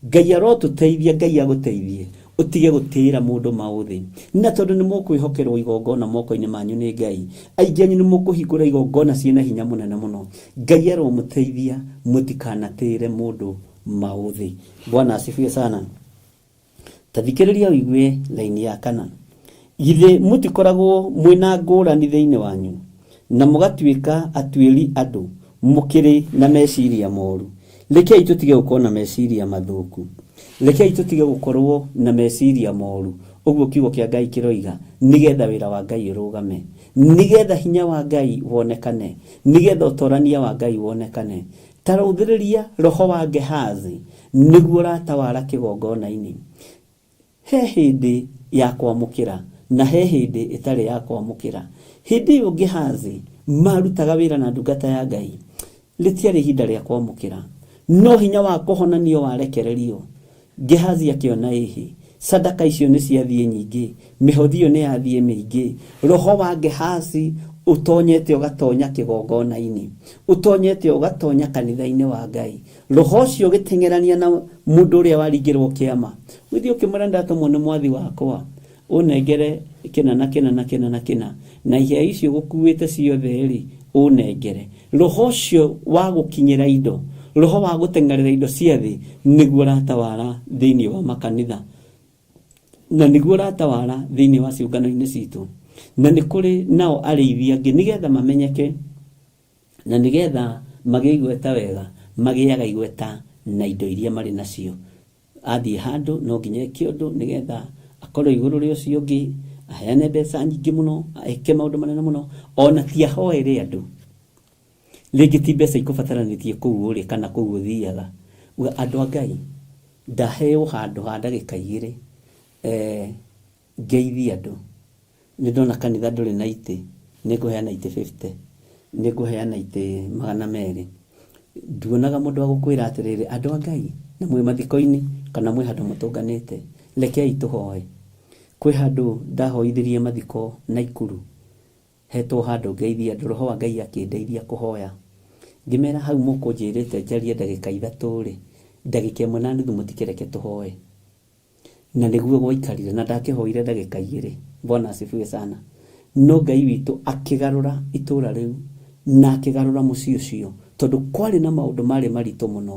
Ngai arotũteithia, Ngai agũteithie ũtige gũtĩĩra mũndũ maũthĩ. Na tondũ nĩ mũkwĩhokerwo igongona moko-inĩ manyu nĩ Ngai, aingĩ anyu nĩ mũkũhingũra igongona ciĩ na hinya mũnene mũno. Ngai aromũteithia mũtikanatĩĩre mũndũ maũthĩ. Bwana asifiwe sana. Ta thikĩrĩria ũigue raini ya kana. Githĩ mũtikoragwo mwĩ na ngũrani thĩinĩ wanyu, na mũgatuĩka atuĩri andũ, mũkĩrĩ na meciria moru? Rekei tũtige gũkorwo na meciria mathũku. Rekei tũtige gũkorwo na meciria moru, ũguo kiugo kĩa Ngai kĩroiga, nĩgetha wĩra wa Ngai ũrũgame, nĩgetha hinya wa Ngai wonekane, nĩgetha ũtorania wa Ngai wonekane, Ta rũngĩrĩria roho wa Gehazi, nĩguo ũratawara kĩgongona-inĩ, he hĩndĩ ya kwamũkĩra na he hĩndĩ ĩtarĩ ya kwamũkĩra. Hĩndĩ ĩyo Gehazi maarutaga wĩra na ndungata ya Ngai, rĩtiarĩ ihinda rĩa kwamũkĩra. No hinya wa kũhonanio warekererio, Gehazi akĩona, ĩ hĩ! Sadaka icio nĩ ciathiĩ nyingĩ, mĩhothi ĩyo nĩ yathiĩ mĩingĩ. Roho wa Gehazi ũtonyete ũgatonya kĩgongona-inĩ, ũtonyete ũgatonya kanitha-inĩ wa Ngai. Roho ũcio ũgĩteng'erania na mũndũ ũrĩa waringĩrwo kĩama, ũgĩthiĩ ũkĩmwĩra, Nĩ ndatũmwo nĩ mwathi wakwa. Ũnengere kĩna na kĩna na kĩna na kĩna, na ihĩa icio ũgũkuuĩte ciothe-rĩ, ũnengere. Roho ũcio wa gũkinyĩra indo, roho wa gũteng'erera indo cia thĩ, nĩguo ũratawara thĩinĩ wa makanitha, na nĩguo ũratawara thĩinĩ wa ciũngano-inĩ citũ. Na nĩ kũrĩ nao arĩithi angĩ, nĩ getha mamenyeke, na nĩ getha magĩe igweta wega, magĩaga igweta na indo iria marĩ nacio. Athiĩ handũ no nginya eke ũndũ nĩgetha akorwo igũrũ rĩa ũcio ũngĩ, aheane mbeca nyingĩ mũno, eke maũndũ manene mũno, o na ti ahoere andũ. Rĩngĩ ti mbeca ikũbataranĩtie kũu ũrĩ kana kũu ũthiaga. Andũ a Ngai, ndaheo handũ ha ndagĩka igĩrĩ. Ngeithia andũ. Nĩ ndona kanitha ndũrĩ na itĩ, nĩ ngũheana itĩ fifty. Nĩ ngũheana itĩ magana merĩ. Nduonaga mũndũ wa gũkwĩra atĩrĩrĩ, andũ a Ngai, na mwĩ mathiko-inĩ, kana mwĩ handũ mũtũnganĩte, rekei tũhoe. Kwĩ handũ ndahoithirie mathiko Naikuru, hetwo handũ ngeithie andũ, roho wa Ngai akĩndeithia kũhoya. Ngĩmera hau mũkũnjĩrĩte njarie ndagĩka ithatũ-rĩ, ndagĩka ĩmwe na nuthu mũtikĩreke tũhoe. Na nĩguo gwaikarire, na ndakĩhoire ndagĩka igĩrĩ. Bwana asifiwe sana. No Ngai witũ akĩgarũra itũũra rĩu, na akĩgarũra mũciĩ ũcio, tondũ kwarĩ na maũndũ maarĩ maritũ mũno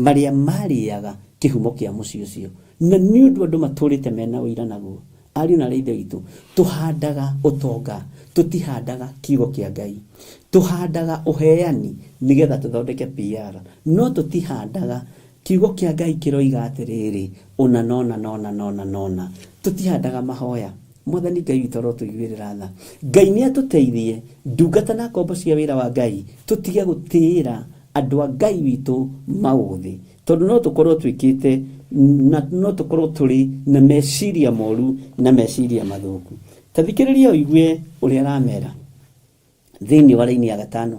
marĩa maarĩaga kĩhumo kĩa mũciĩ ũcio. Na nĩ ũndũ andũ matũũrĩte mena ũira naguo. Ariũ na aarĩ a Ithe witũ, tũhandaga ũtonga, tũtihandaga Kiugo kĩa Ngai. Tũhandaga ũheani nĩgetha tũthondeke PR, no tũtihandaga Kiugo kĩa Ngai kĩroiga atĩrĩrĩ, Ũna na ũna na ũna na ũna na ũna. Tũtihandaga mahoya. Mwathani Ngai witũ arotũiguĩrĩra tha. Ngai nĩ atũteithie, ndungata na ngombo cia wĩra wa Ngai, tũtige gũtĩĩra andũ a Ngai witũ maũthĩ. Tondũ no tũkorũo twĩkĩte na no tũkorũo tũrĩ na meciria moru na meciria mathũku. Ta thikĩrĩria ũigue ũrĩa aramera thĩinĩ wa raini ya gatano.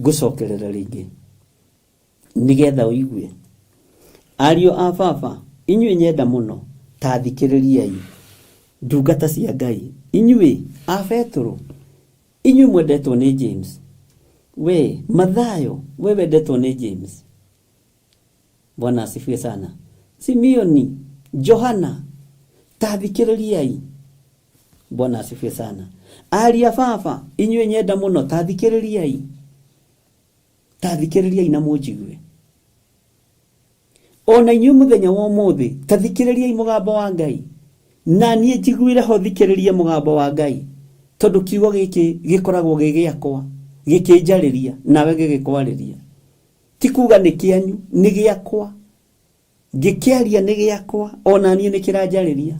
ngũcokerera rĩngĩ nĩgetha ũigue ariũ a baba inyuĩ nyenda mũno ta thikĩrĩriai ndungata cia ngai inyuĩ a betũrũ inyuĩ mwendetwo nĩ james we mathayo we wendetwo nĩ james Bwana asifiwe sana. Simioni, Johana, tathikĩrĩriai. Bwana asifiwe sana. Aria baba, inyuĩ nyenda mũno, tathikĩrĩriai. Tathikĩrĩriai na mũnjigue. O na inyuĩ mũthenya wa ũmũthĩ, tathikĩrĩriai mũgambo wa Ngai. Na niĩ njiguĩre ho thikĩrĩrie mũgambo wa Ngai. Tondũ kiugo gĩkĩ gĩkoragwo gĩ gĩakwa, gĩkĩnjarĩria, nawe gĩgĩkwarĩria. Ti kuuga nĩ kĩanyu, nĩ gĩakwa. Ngĩkĩaria nĩ gĩakwa, o na niĩ nĩ kĩranjarĩria.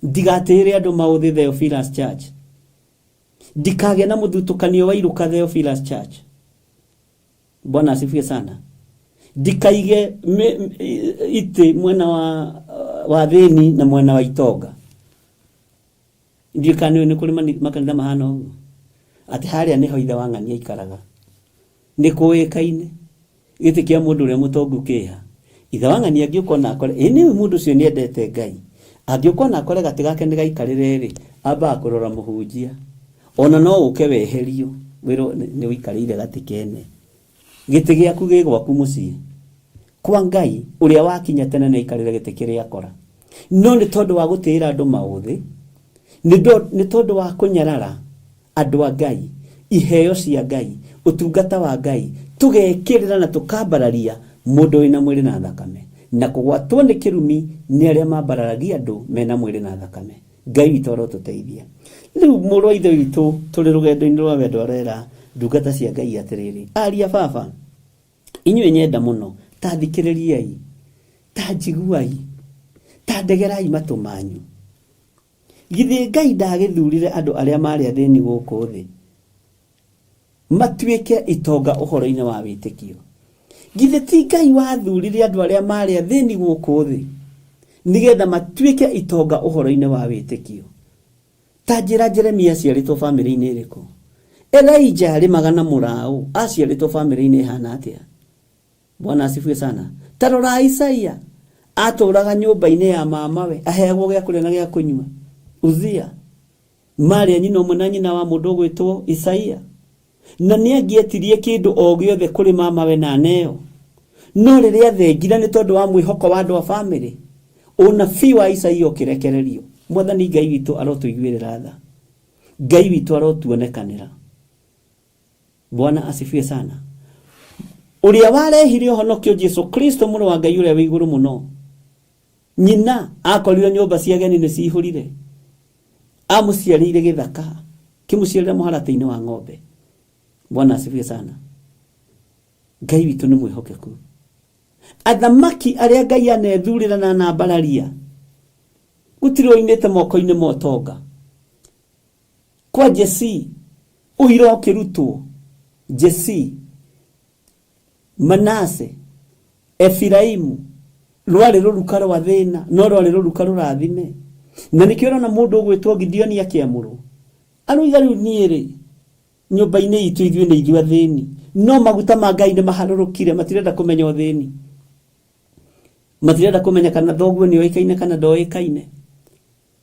Ndigatĩĩre andũ maũthĩ Theophilus Church. Ndikagĩa na mũthutũkanio wa iruka Theophilus Church. Bwana asifiwe sana. Ndikaige me, itĩ mwena wa, wa thĩni na mwena wa itonga. Ithuĩ kana nĩũĩ nĩ kũrĩ mani- makanitha mahana ũguo atĩ harĩa nĩho ithe wa ng'ania aikaraga nĩ kũĩkaine gĩtĩ kĩa mũndũ ũrĩa mũtongu kĩha ithe wa ng'ania angĩũka ona akore ĩ nĩũĩ mũndũ ũcio nĩ endete ngai angĩũka ona akore gatĩ gake nĩ gaikarĩre rĩ ambaga kũrora mũhunjia ona no ũke weherio wĩrwo nĩ- nĩ ũikarĩire gatĩ kene Gĩtĩ gĩaku gĩ gwaku mũciĩ kwa Ngai, ũrĩa wakinya tene nĩaikarĩre gĩtĩ kĩrĩa akora. No nĩ tondũ wa gũtĩĩra andũ maũthĩ, nĩ tondũ wa kũnyarara andũ a Ngai, iheo cia Ngai, ũtungata wa Ngai, tũgekĩrĩra na tũkambararia mũndũ wĩ na mwĩrĩ na thakame, na kũgwatwo nĩ kĩrumi nĩ arĩa mambararagia andũ me na mwĩrĩ na thakame. Ngai witũ arotũteithia. Rĩu mũrũ wa ithe witũ tũrĩ rũgendo-inĩ rwa wendo arera ndungata cia Ngai atĩrĩrĩ, Ariũ a Baba, inyuĩ nyenda mũno, ta thikĩrĩriai, ta njiguai, ta ndegerai matũ manyu. Githĩ Ngai ndaagĩthuurire andũ arĩa maarĩ athĩni gũkũ thĩ? matuĩke itonga ũhoro-inĩ wa wĩtĩkio. Githĩ ti Ngai wathuurire andũ arĩa maarĩ athĩni gũkũ thĩ nĩgetha matuĩke itonga ũhoro-inĩ wa wĩtĩkio? Ta njĩra Jeremia aaciarĩtwo famĩlĩ-inĩ ĩrĩkũ? Elijah arĩ magana mũraũ aaciarĩtwo famĩlĩ-inĩ ĩhaana atĩa? Bwana asifiwe sana. Ta rora Isaia, aatũũraga nyũmba-inĩ ya mamawe, aheagwo gĩa kũrĩa na gĩa kũnyua. Uzia. Maarĩ a nyina ũmwe na nyina wa mũndũ ũgwĩtwo Isaia, na nĩ angĩetirie kĩndũ o gĩothe kũrĩ mamawe na aneo. No rĩrĩa athengire nĩ tondũ wa mwĩhoko wa andũ a famĩlĩ, ũnabii wa Isaia ũkĩrekererio. Mwathani Ngai witũ arotũiguĩrĩra tha. Ngai witũ arotuonekanĩra. Bwana asifiwe sana. Ũrĩa warehire ũhonokio Jesu Kristo mũrũ wa Ngai ũrĩa wĩ igũrũ mũno. Nyina akorire nyũmba cia ageni nĩ ciihũrire. Amũciarĩire gĩthaka. Kĩmũciarĩra mũharatĩ-inĩ wa ng'ombe. Bwana asifiwe sana. Ngai witũ nĩ mwĩhokeku. Athamaki arĩa Ngai anethurĩra na anambararia. Gũtirĩ oinĩte moko-inĩ ma ũtonga. Kwa Jesii ũira ũkĩrutwo. Jesii Manase, Efiraimu, rwarĩ rũruka rwa thĩna, no rwarĩ rũruka rũrathime. Na nĩkĩo ũrona mũndũ ũgwĩtwo Gideoni akĩamũrwo. Aroiga rĩu niĩ-rĩ, nyũmba-inĩ itũ ithuĩ nĩ ithuĩ athĩni, no maguta ma Ngai nĩ maharũrũkire, matirenda kũmenya ũthĩni. Matirenda kũmenya kana thoguo nĩ oĩkaine kana ndoĩkaine.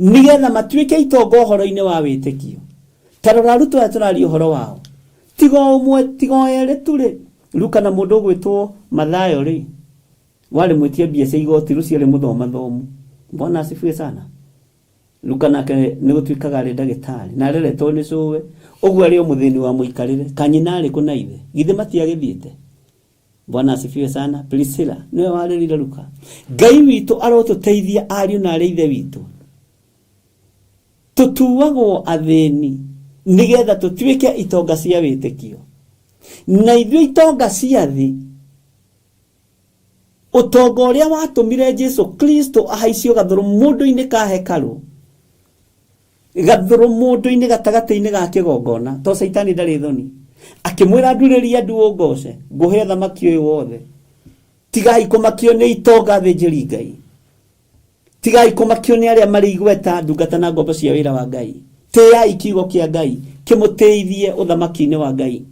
nĩgetha matuĩke itonga ũhoro-inĩ wa wĩtĩkio ta rora arutwo aya tũraria ũhoro wao tiga o ũmwe tiga o erĩ tu rĩ luka na mũndũ ũgwĩtwo mathayo rĩ warĩ mwĩtia mbia cia igoti rũcio arĩ mũthoma thomu mbona asifiwe sana luka nake nĩ gũtuĩkaga arĩ ndagĩtarĩ na areretwo nĩ cũwe ũguo arĩ o mũthĩni wa mũikarĩre kanyina arĩ kũ na ithe githĩ matiagĩthiĩte bwana asifiwe sana priscilla niwe warĩrire ruka ngai witũ arotũteithia ariũ na arĩa ithe witũ tũtuagwo athĩni nĩgetha tũtuĩke itonga cia wĩtĩkio na ithuĩ itonga cia thĩ ũtonga ũrĩa watũmire jesu kristo ahaicio gathũrũ mũndũ-inĩ ka hekarũ gathũrũ mũndũ-inĩ gatagatĩ-inĩ ga kĩgongona to caitani ndarĩ thoni akĩmwĩra ndurĩria ndu ũngoce ngũhe ũthamaki ũyũ wothe tigai kũmakio nĩ itonga thĩnjĩri ngai tigai kũmakio nĩ arĩa marĩ igweta ndungata na ngombo cia wĩra wa ngai tĩyai kiugo kĩa ngai kĩmũtĩithie ũthamaki-inĩ wa ngai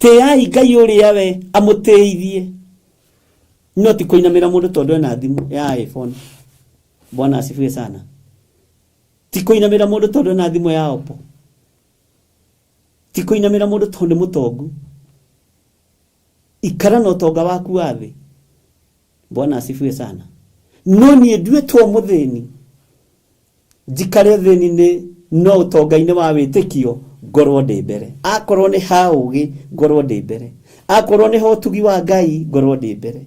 tĩyai ngai ũrĩa we amũtĩithie no ti kũinamĩra mũndũ tondũ ena thimũ ya iphone Bwana asifiwe sana. Tikoinamira mundu tondu na thimu ya opo. Tikoinamira mundu tondu mutongu. Ikara na utonga waku wa thi. Bwana asifiwe sana. No niĩ nduĩtwo mũthĩni njikare thĩni-inĩ no ũtonga-inĩ wa wĩtĩkio ngorwo ndĩ mbere akorwo nĩ ha ũgĩ ngorwo ndĩ mbere akorwo nĩ ha ũtugi wa ngai ngorwo ndĩ mbere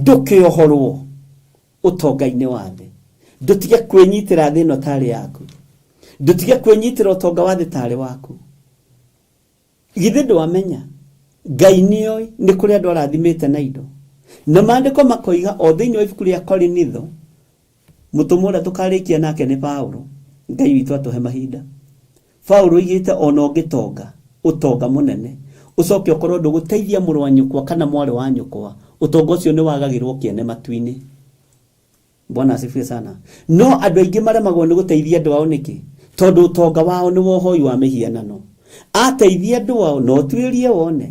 Ndũkĩohorwo ũtonga-inĩ wa thĩ. Ndũtige kwĩnyitĩra thĩ ĩno ta arĩ yaku. Ndũtige kwĩnyitĩra ũtonga wa thĩ ta arĩ waku. Githĩ ndwamenya Ngai nĩ oĩ nĩ kũrĩ andũ arathimĩte na indo? Na maandĩko makoiga o thĩinĩ wa ibuku rĩa Korinitho, Mũtũmwo ũrĩa tũkarĩkia nake nĩ Paulo, Ngai witũ atũhe mahinda. Paulo oigĩte ona ũngĩtonga, ũtonga mũnene, ũcoke ũkorwo ndũgũteithia mũrũ wa nyũkwa kana mwarĩ wa nyũkwa, ũtonga ũcio nĩ wagagĩrwo kĩene matu-inĩ. Bwana asifiwe sana. No andũ aingĩ maremagwo nĩ gũteithia andũ ao nĩkĩ? Tondũ ũtonga wao nĩ wa ũhoi wa mĩhianano. Ateithia andũ ao, na ũtuĩrie wone,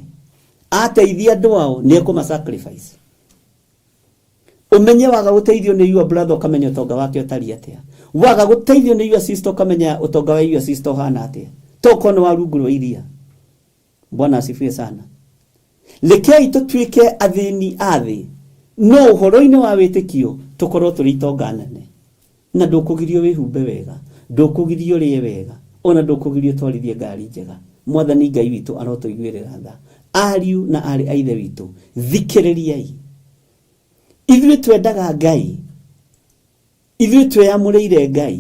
ateithia andũ ao nĩ ekũma sacrifice. Ũmenye waga gũteithio nĩ your brother ũkamenya ũtonga wake ũtariĩ atĩa. Waga gũteithio nĩ your sister ũkamenya ũtonga wa your sister ũhana atĩa. To ũkorwo nĩ wa rungu rwa iria. Bwana asifiwe sana. Rekei tũtuĩke athĩni a thĩ, no ũhoro-inĩ wa wĩtĩkio tũkorwo tũrĩ itonga nene. Na ndũkũgirio wĩhumbe wega, ndũkũgirio ũrĩe wega, o na ndũkũgirio ũtwarithie ngaari njega. Mwathani Ngai witũ arotũiguĩrĩra tha. Ariũ na aarĩ a Ithe witũ, thikĩrĩriai. Ithuĩ twendaga Ngai. Ithuĩ twĩyamũrĩire Ngai.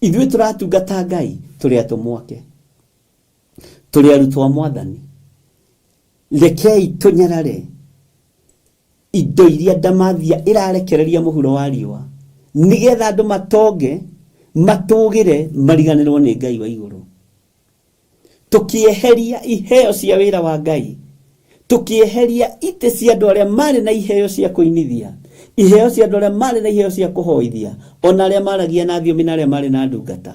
Ithuĩ tũratungata Ngai. Tũrĩ atũmwo ake. Tũrĩ arutwo a Mwathani. Rekei tũnyarare Indo iria ndamathia ĩrarekereria mũhuro wa riũa, nĩgeetha andũ matonge, matũũgĩre, mariganĩrwo nĩ Ngai wa igũrũ. Tũkĩeheria iheo cia wĩra wa Ngai, tũkĩeheria itĩ cia andũ arĩa maarĩ na iheo cia kũinithia, iheo cia andũ arĩa maarĩ na iheo cia kũhooithia, o na arĩa maaragia na thiomi na arĩa maarĩ na ndungata,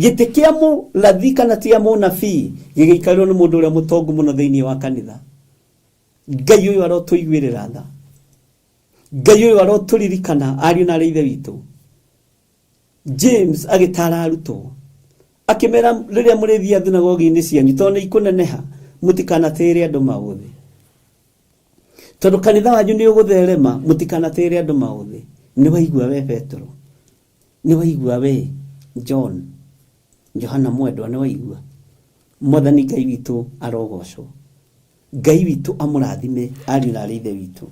gĩtĩ kĩa mũrathi kana kĩa mũnabii gĩgĩikarĩrwo nĩ mũndũ ũrĩa mũtongu mũno thĩinĩ wa kanitha. ngai ũyũ arotũiguĩrĩra tha ngai ũyũ arotũririkana ariũ na arĩ ithe witũ james agĩtara arutwo akĩmera rĩrĩa mũrĩthiia thunagogi-inĩ cianyu tondũ nĩ ikũneneha mũtikanatĩĩre andũ maũthĩ tondũ kanitha wanyu nĩ ũgũtherema mũtikanatĩĩre andũ maũthĩ nĩ waigua we petero Nĩ waigua wee John, Johana mwendwa, nĩ waigua? Mwathani Ngai witũ arogocwo. Ngai witũ amũrathime ariũ na arĩa ithe witũ.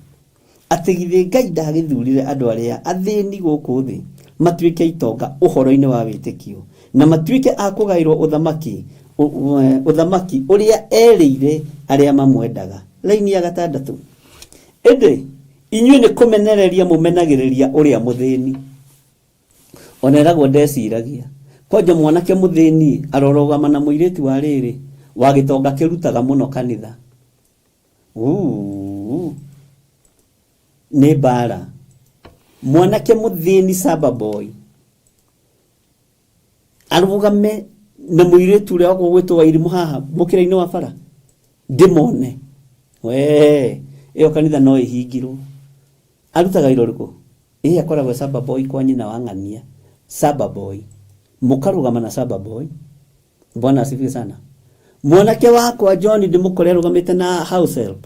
Atĩ githĩ Ngai ndagĩthurire andũ arĩa athĩni gũkũ thĩ matuĩke itonga ũhoro-inĩ wa wĩtĩkio na matuĩke a kũgaĩrwo ũthamaki ũ- ũ- ũthamaki ũrĩa erĩire arĩa mamwendaga. Raini ya gatandatũ. Ĩndĩ Inyuĩ nĩ kũmenereria mũmenagĩrĩria ũrĩa mũthĩni. O na eragwo ndeciragia. Kwanja mwanake mũthĩni-ĩ, arorũgama na mũirĩtu wa rĩrĩ, wa gĩtonga kĩrutaga mũno kanitha. Ooh! Nĩ mbaara. Mwanake mũthĩni saba boy. arũgame na mũirĩtu ũrĩa wagwo gwĩtwo wairimũ haha mũkĩra-inĩ wa bara ndĩmone wee ĩyo kanitha no ĩhingirwo arutaga wĩra ũrĩkũ ĩĩ akoragwo saba boy kwa nyina wa ng'ania saba boy mũkarũgama na saba boy bwana asifiwe sana mwanake wakwa john ndĩmũkore arũgamĩte na house help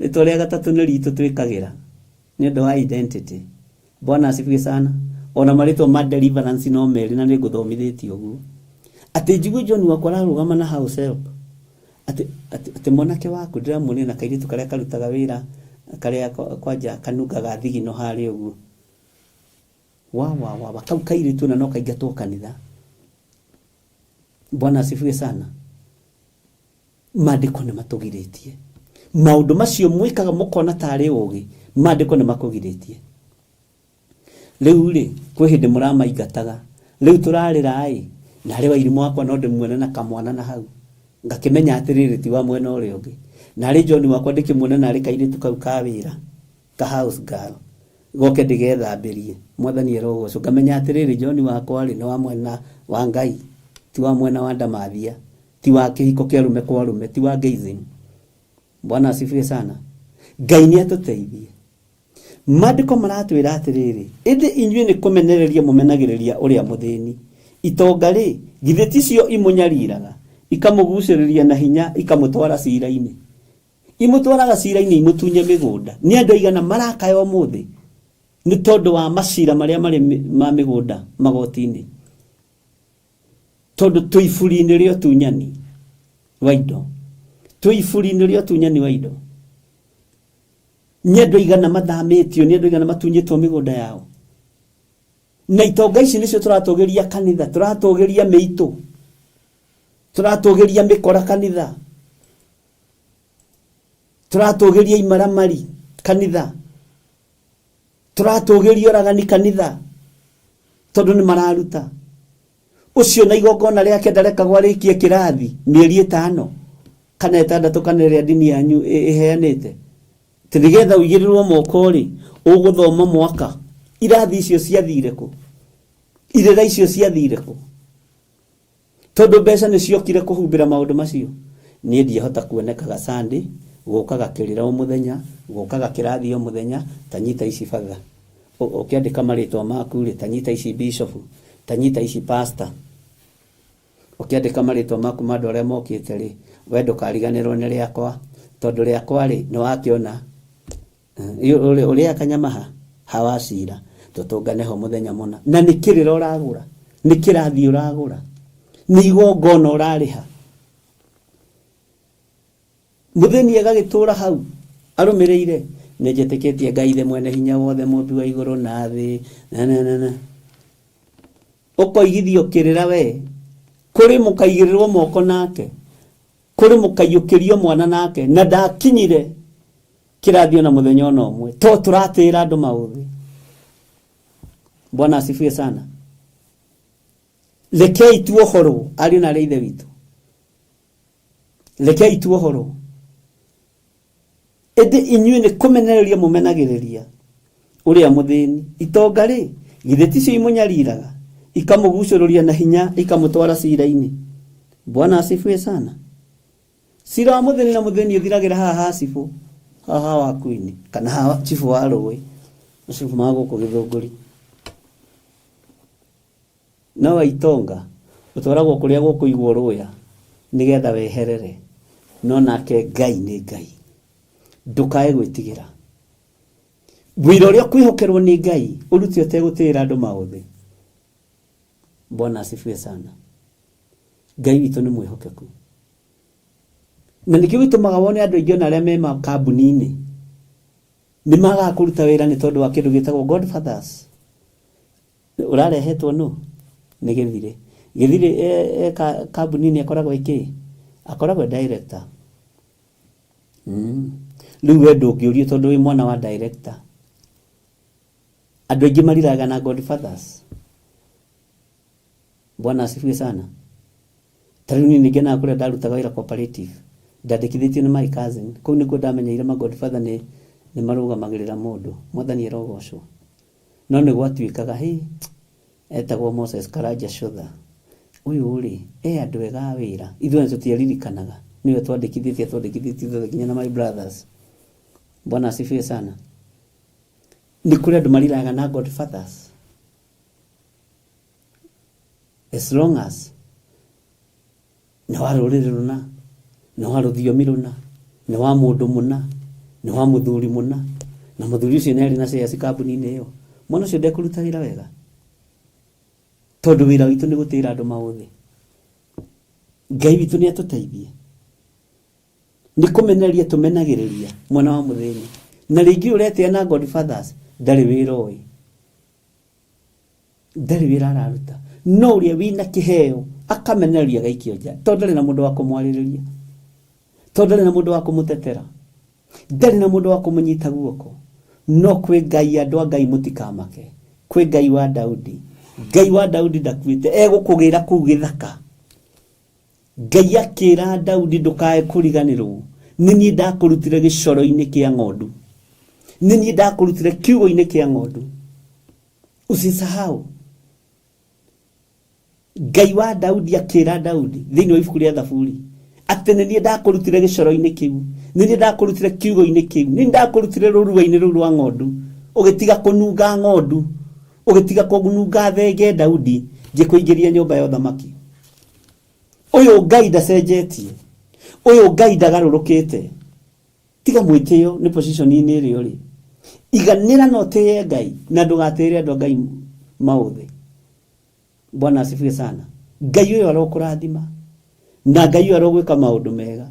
Rĩtwa rĩa gatatũ nĩ ritũ twĩkagĩra nĩ ũndũ wa identity. Bwana asifiwe sana. Ona marĩtwa ma deliverance no merĩ na nĩ ngũthomithĩtie ũguo. Atĩ njigue John wakwa ararũgama na house help. Atĩ, atĩ, atĩ mwanake waku ndĩramuonire na kairĩtu karĩa karutaga wĩra karĩa kwa- kwanja kanungaga thigino harĩa ũguo. Wa, wa, wa, wa, kau kairĩtu ona no kaingatwo kanitha. Bwana asifiwe sana. Maandĩko nĩ matũgirĩtie. Maũndũ macio mwĩkaga mũkona tarĩ ũũgĩ, Maandĩko nĩ makũgirĩtie. Rĩu-rĩ, kwĩ hĩndĩ mũramaingataga. Rĩu tũrarĩra-ĩ, narĩ wa irimũ wakwa no ndĩmuone na kamwana na hau, ngakĩmenya atĩ rĩrĩ ti wa mwena ũrĩa ũngĩ. Narĩ John wakwa ndĩkĩmuone narĩ kairĩtu kau ka wĩra, ka house girl, goke ndĩgethambĩrie, Mwathani erogoocwo, ngamenya atĩ rĩrĩ John wakwa-rĩ nĩ wa mwena wa Ngai, ti wa mwena wa Ndamathia. ti wa kĩhiko kĩa rũme kwa rũme ti wa gayism bwana asifiwe sana ngai nĩ atũteithie maandĩko maratwĩra atĩrĩrĩ ĩndĩ inyuĩ nĩ kũmenereria mũmenagĩrĩria ũrĩa mũthĩni itonga rĩ githĩ ti cio imũnyariraga ikamũgucĩrĩria na hinya ikamũtwara cira-inĩ imũtwaraga cira-inĩ imũtunye mĩgũnda nĩ andũ aigana marakaya ũmũthĩ nĩ tondũ wa macira marĩa marĩ mĩ- ma mĩgũnda magoti-inĩ Tondũ tũiburi-inĩ rĩa ũtunyani wa indo, tũiburi-inĩ rĩa ũtunyani wa indo, nĩ andũ aigana mathamĩtio, nĩ andũ aigana matunyĩtwo mĩgũnda yao. Na itonga ici nĩcio tũratũgĩria kanitha, tũratũgĩria mĩitũ, tũratũgĩria mĩkora kanitha, tũratũgĩria imaramari kanitha. tũratũgĩria oragani kanitha tondũ nĩ mararuta ũcio na igongona rĩake ndarekagwo arĩkie kĩrathi mĩeri ĩtano kana ĩtandatũ kana ĩrĩa ndini yanyu ĩ- ĩheanĩte tĩ nĩgetha ũigĩrĩrwo moko rĩ ũgũthoma mwaka irathi icio ciathire kũ irĩra icio ciathire kũ Tondũ mbeca nĩ ciokire kũhumbĩra maũndũ macio, niĩ ndiahota kuonekaga Sunday, gũkaga kĩrĩra o mũthenya, gũkaga kĩrathi o mũthenya, ta nyita ici Father, ũkĩandĩka marĩtwa maku rĩ, ta nyita ici Bishop, ta nyita ici Pastor, ũkĩandĩka marĩtwa maku ma andũ arĩa mokĩte rĩ, we ndũkariganĩrwo nĩ rĩakwa, tondũ rĩakwa rĩ, nĩ wakĩona. Ũrĩaga kanyama ha? Ha Wachira. Tũtũngane ho mũthenya mũna. Na nĩ kĩrĩra ũragũra? Nĩ kĩrathi ũragũra? Nĩ igongona ũrarĩha? Mũthĩni agagĩtũra hau arũmĩrĩire, Nĩ njĩtĩkĩtie Ngai Ithe Mwene Hinya Wothe, Mũmbi wa igũrũ na thĩ, na, na, na, na. Ũkoigithio kĩrĩra wee, kũrĩ mũkaigĩrĩrwo moko nake, kũrĩ mũkaiyũkĩrio mwana nake, na ndakinyire kĩrathiĩ ona mũthenya ona ũmwe to tũratĩĩra andũ maũthĩ bwana asifiwe sana rekei tuohorwo ariũ na arĩa ithe witũ rekei tuohorwo ĩndĩ inyuĩ nĩ kũmenereria mũmenagĩrĩria ũrĩa mũthĩni itonga rĩ githĩ ticio imũnyariraga ikamũgucũrũria na hinya ikamũtwara cira-inĩ bwana asifiwe sana Cira wa mũthĩni na mũthĩni ũthiragĩra haha ha cibũ haha ha wakuinĩ kana ha cibũ wa rũĩ na cibũ ma gũkũ gĩthũngũri no wa itonga ũtwaragwo kũrĩa gũkũigwo rũya nĩgetha weherere no nake ngai nĩ ngai ndũkae gwĩtigĩra wĩra ũrĩa kwĩhokerwo nĩ ngai ũrute ũtegũtĩĩra andũ maũthĩ Bwana asifiwe sana. Ngai witũ nĩ mwĩhokeku. Na nĩkĩo gĩtũmaga wone andũ aingĩ ona arĩa me makambuni-inĩ nĩ magaga kũruta wĩra nĩ tondũ wa kĩndũ gĩtagwo Godfathers. Ũrarehetwo nũ? Nĩ Gĩthirĩ. Gĩthirĩ e, e ka, kambuni-inĩ akoragwo ĩkĩ? Akoragwo e director. Mm. Rĩu we ndũngĩũrio tondũ wĩ mwana wa director. Andũ aingĩ mariraga na godfathers. Bwana asifiwe sana. Ta rĩu niĩ nĩngenaga kũrĩa ndarutaga wĩra cooperative. Ndandĩkithĩtio nĩ my cousin. Kũu nĩkuo ndamenyeire ma godfather nĩ nĩ marũgamagĩrĩra mũndũ. Mwathani erogocwo. No nĩ gwatuĩkaga hĩ etagwo Moses Karanja Cotha. Ũyũ rĩ, e andũ ega a wĩra. Ithuĩ ona tũtiaririkanaga. Nĩwe twandĩkithĩtie twandĩkithĩtie ithuothe nginya na my brothers. Bwana asifiwe sana. Nĩ kũrĩ andũ mariraga na godfathers. As long as nĩ wa rũrĩrĩ rũna, nĩ wa rũthiomi rũna, nĩ wa mũndũ mũna, nĩ wa mũthuri mũna, na mũthuri ũcio nĩ arĩ na shares kambuni-inĩ ĩyo, mwana ũcio ndekũruta wĩra wega. Tondũ wĩra witũ nĩ gũtĩra andũ maũthĩ. Ngai witũ nĩ atũteithie. Nĩ kũmenereria tũmenagĩrĩria mwana wa mũthĩni. Na rĩngĩ ũyũ ũretĩa na Godfathers ndarĩ wĩra ũĩ. Ndarĩ wĩra araruta. No ũrĩa wĩna kĩheo akamenereria agaikio nja tondũ ndarĩ na mũndũ wa kũmwarĩrĩria. Tondũ ndarĩ na mũndũ wa kũmũtetera. Ndarĩ na mũndũ wa kũmũnyita guoko. No kwĩ Ngai andũ a Ngai mũtikamake. Kwĩ Ngai wa Daudi. Ngai wa Daudi ndakuĩte. Egũkũgĩra kũu gĩthaka. Ngai akĩĩra Daudi, Ndũkaae kũriganĩrũo. Nĩ niĩ ndakũrutire gĩcoro-inĩ kĩa ng'ondu. Nĩ niĩ ndakũrutire kiugũ-inĩ kĩa ng'ondu. Usisahau. Ngai wa Daudi akĩĩra Daudi thĩinĩ wa ibuku rĩa Thaburi atĩ nĩ niĩ ndakũrutire gĩcoro-inĩ kĩu, nĩ niĩ ndakũrutire kiugũ-inĩ kĩu, nĩ niĩ ndakũrutire rũrua-inĩ rũu rwa ng'ondu, ũgĩtiga kũnunga ng'ondu, ũgĩtiga kũnunga thenge Daudi, ngĩkũingĩria nyũmba ya ũthamaki. Ũyũ Ngai ndacenjetie, ũyũ Ngai ndagarũrũkĩte. Tiga mwĩtĩo nĩ position inĩ ĩrĩa ũrĩ. Iganĩra na ũtĩe Ngai na ndũgatĩĩre andũ a Ngai maũthĩ. Bwana asifiwe sana. Ngai ũyũ arokũrathima na Ngai ũyũ arogwĩka maũndũ mega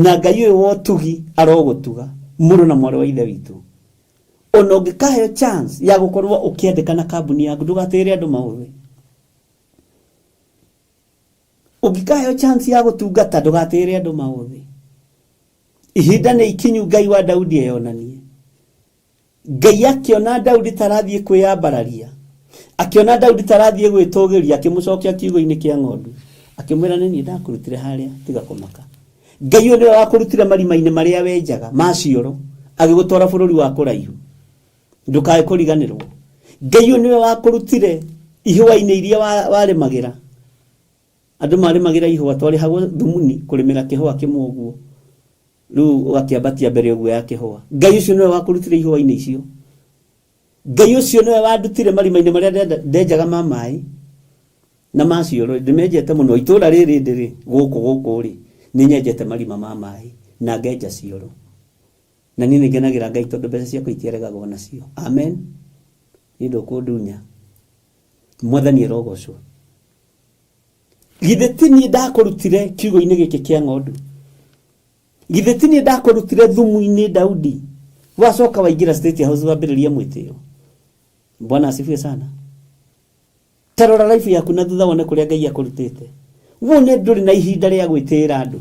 na Ngai ũyũ wa ũtugi arogũtuga mũrũ na mwarĩ wa Ithe witũ. Ona ũngĩkaheo chance ya gũkorwo ũkĩandĩka na kambuni yaku ndũgatĩĩre andũ maũthĩ. ũngĩkaheo chance ya gũtungata ndũgatĩre andũ maũthĩ ihinda nĩ ikinyu ngai wa daudi eyonanie ngai akĩona daudi tarathiĩ kwĩyambararia akĩona daudi tarathiĩ gwĩtũgĩria akĩmũcokia kiugo-inĩ kĩa ng'ondu akĩmwĩra nĩ niĩ ndakũrutire harĩa tiga kũmaka ngai ũyũ nĩwe wakũrutire marima-inĩ marĩa wenjaga ma cioro agĩgũtwara bũrũri wa kũraihu ndũkae kũriganĩrwo ngai ũyũ nĩwe wakũrutire ihũa-inĩ iria wa- warĩmagĩra andũ marĩmagĩra ihũa twarĩhagwo thumuni kũrĩmĩra kĩhũa kĩmwe ũguo rĩu ũgakĩambatia mbere ũguo ya kĩhũa ngai ũcio nĩwe wakũrutire ihũa-inĩ icio ngai ũcio nĩwe wandutire marima-inĩ marĩa ndenda- ndenjaga ma maĩ na macioro ndĩmenjete mũno itũũra rĩrĩ ndĩrĩ gũkũ gũkũ rĩ nĩnyenjete marima ma maĩ na ngenja cioro na niĩ nĩngenagĩra ngai tondũ mbeca ciakwa itiaregagwo nacio amen nĩ ũndũ ũkũndunya mwathani erogocwo githĩ ti niĩ ndakũrutire kiugo-inĩ gĩkĩ kĩa ng'ondu githĩ ti niĩ ndakũrutire thumu-inĩ daudi wacoka waingĩra state house wambĩrĩria mwĩtĩo bwana asifiwe sana ta rora raibu yaku na thutha wone kũrĩa ngai akũrutĩte wone ndũrĩ na ihinda rĩa gwĩtĩĩra andũ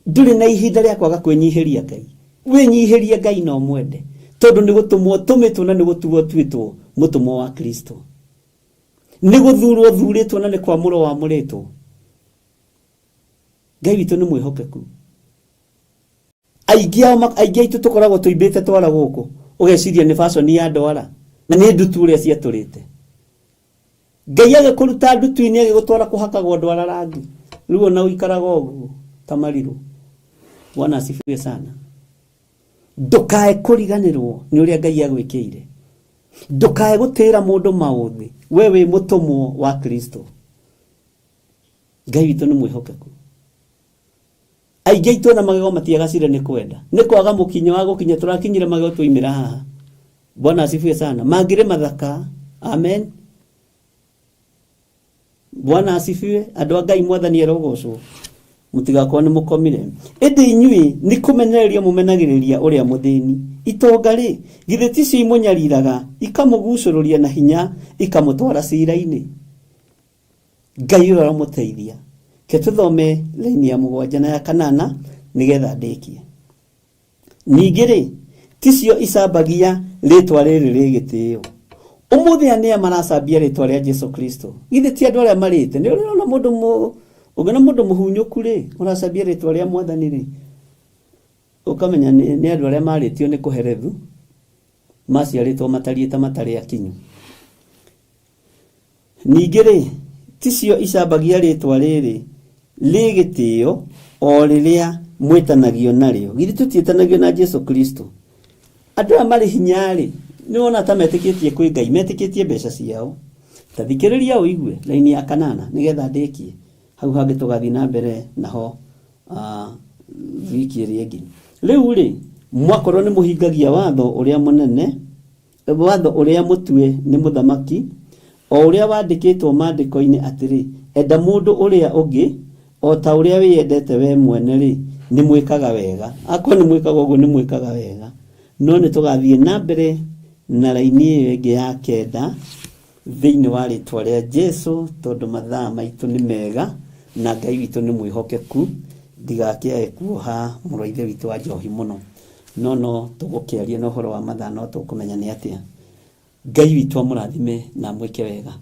ndũrĩ na ihinda rĩa kwaga kwĩnyihĩria ngai wĩnyihĩrie ngai na ũmwende tondũ nĩ gũtũmwo tũmĩtwo na nĩ gũtuo tuĩtwo mũtũmwo wa kristo nĩ gũthurwo thurĩtwo na nĩ kwamũrwo wamũrĩtwo ngai witũ nĩ mwĩhokeku aingĩ ao mak- aingĩ aitũ tũkoragwo tũimbĩte twara gũkũ ũgeciria nĩ fashion ya ndwara na nĩ ndutu ũrĩa ciatũrĩte Ngai agĩkũruta ndutu-inĩ agĩgũtwara kũhakagwo ndwara rangi, rĩu ona ũikaraga ũguo ta marirũ. Bwana asifiwe sana. Ndũkae kũriganĩrwo nĩ ũrĩa Ngai agwĩkĩire, ndũkae gũtĩĩra mũndũ maũthĩ, we wĩ mũtũmwo wa Kristo. Ngai witũ nĩ mwĩhokeku. Aingĩ aitũ ona magego matiagacire nĩ kwenda. Nĩ kwaga mũkinyo wa gũkinya tũrakinyire magego twaimĩra haha. Bwana asifiwe sana. Mangĩrĩ mathaka. Amen. Bwana asifiwe. Andũ a Ngai mwathani arogocwo. Mũtigakorwo nĩ mũkomire. Ĩndĩ inyuĩ nĩ kũmenereria mũmenagĩrĩria ũrĩa mũthĩni. Itonga rĩ, githĩ ti cio imũnyariraga, ikamũgucũrũria na hinya, ikamũtwara cira-inĩ? Ngai ũromũteithia. Ke tũthome raini ya mũgwanja na ya kanana nĩgetha ndĩkie. Ningĩ-rĩ, ticio icambagia rĩtwa rĩrĩ rĩ gĩtĩo. Ũmũthĩ aya nĩ a maracambia rĩtwa rĩa Jesu Kristo? Githĩ ti andũ arĩa marĩte? Nĩ ũrona mũndũ mũ, ũngĩona mũndũ mũhunyũku-rĩ, ũracambia rĩtwa rĩa Mwathani-rĩ, ũkamenya nĩ nĩ andũ arĩa marĩtio nĩ kũherethu, maciarĩtwo matariĩ ta matarĩ akinyu. Ningĩ-rĩ, ticio icambagia rĩĩtwa rĩĩrĩ rĩ gĩtĩo o rĩrĩa mwĩtanagio narĩo? Githĩ tũtiĩtanagio na Jesu Kristo? Andũ aya marĩ hinya-rĩ, nĩwona ta metĩkĩtie kwĩ Ngai, metĩkĩtie mbeca ciao. Ta thikĩrĩria ũigue raini ya kanana nĩgetha ndĩkie, hau hangĩ tũgathiĩ na mbere naho wiki ĩrĩa ĩngĩ. Rĩu-rĩ, mwakorwo nĩmũhingagia watho ũrĩa mũnene. Watho ũrĩa mũtue nĩ mũthamaki, o ũrĩa wandĩkĩtwo maandĩko-inĩ atĩrĩ, Enda mũndũ ũrĩa ũngĩ o ta ũrĩa wĩyendete wee mwene-rĩ, nĩ mwĩkaga wega. Akorũo nĩ mwĩkaga ũguo nĩ mwĩkaga wega. No nĩ tũgathiĩ na mbere na raini ĩyo ĩngĩ ya kenda. Thĩinĩ wa rĩtwa rĩa Jesu tondũ mathaa maitũ nĩ mega na Ngai witũ nĩ mwĩhokeku ndigakĩae kuoha mũrũ wa ithe witũ wa njohi mũno no no tũgũkĩaria na ũhoro wa mathaa no tũkũmenya nĩ atĩa Ngai witũ amũrathime na amwĩke wega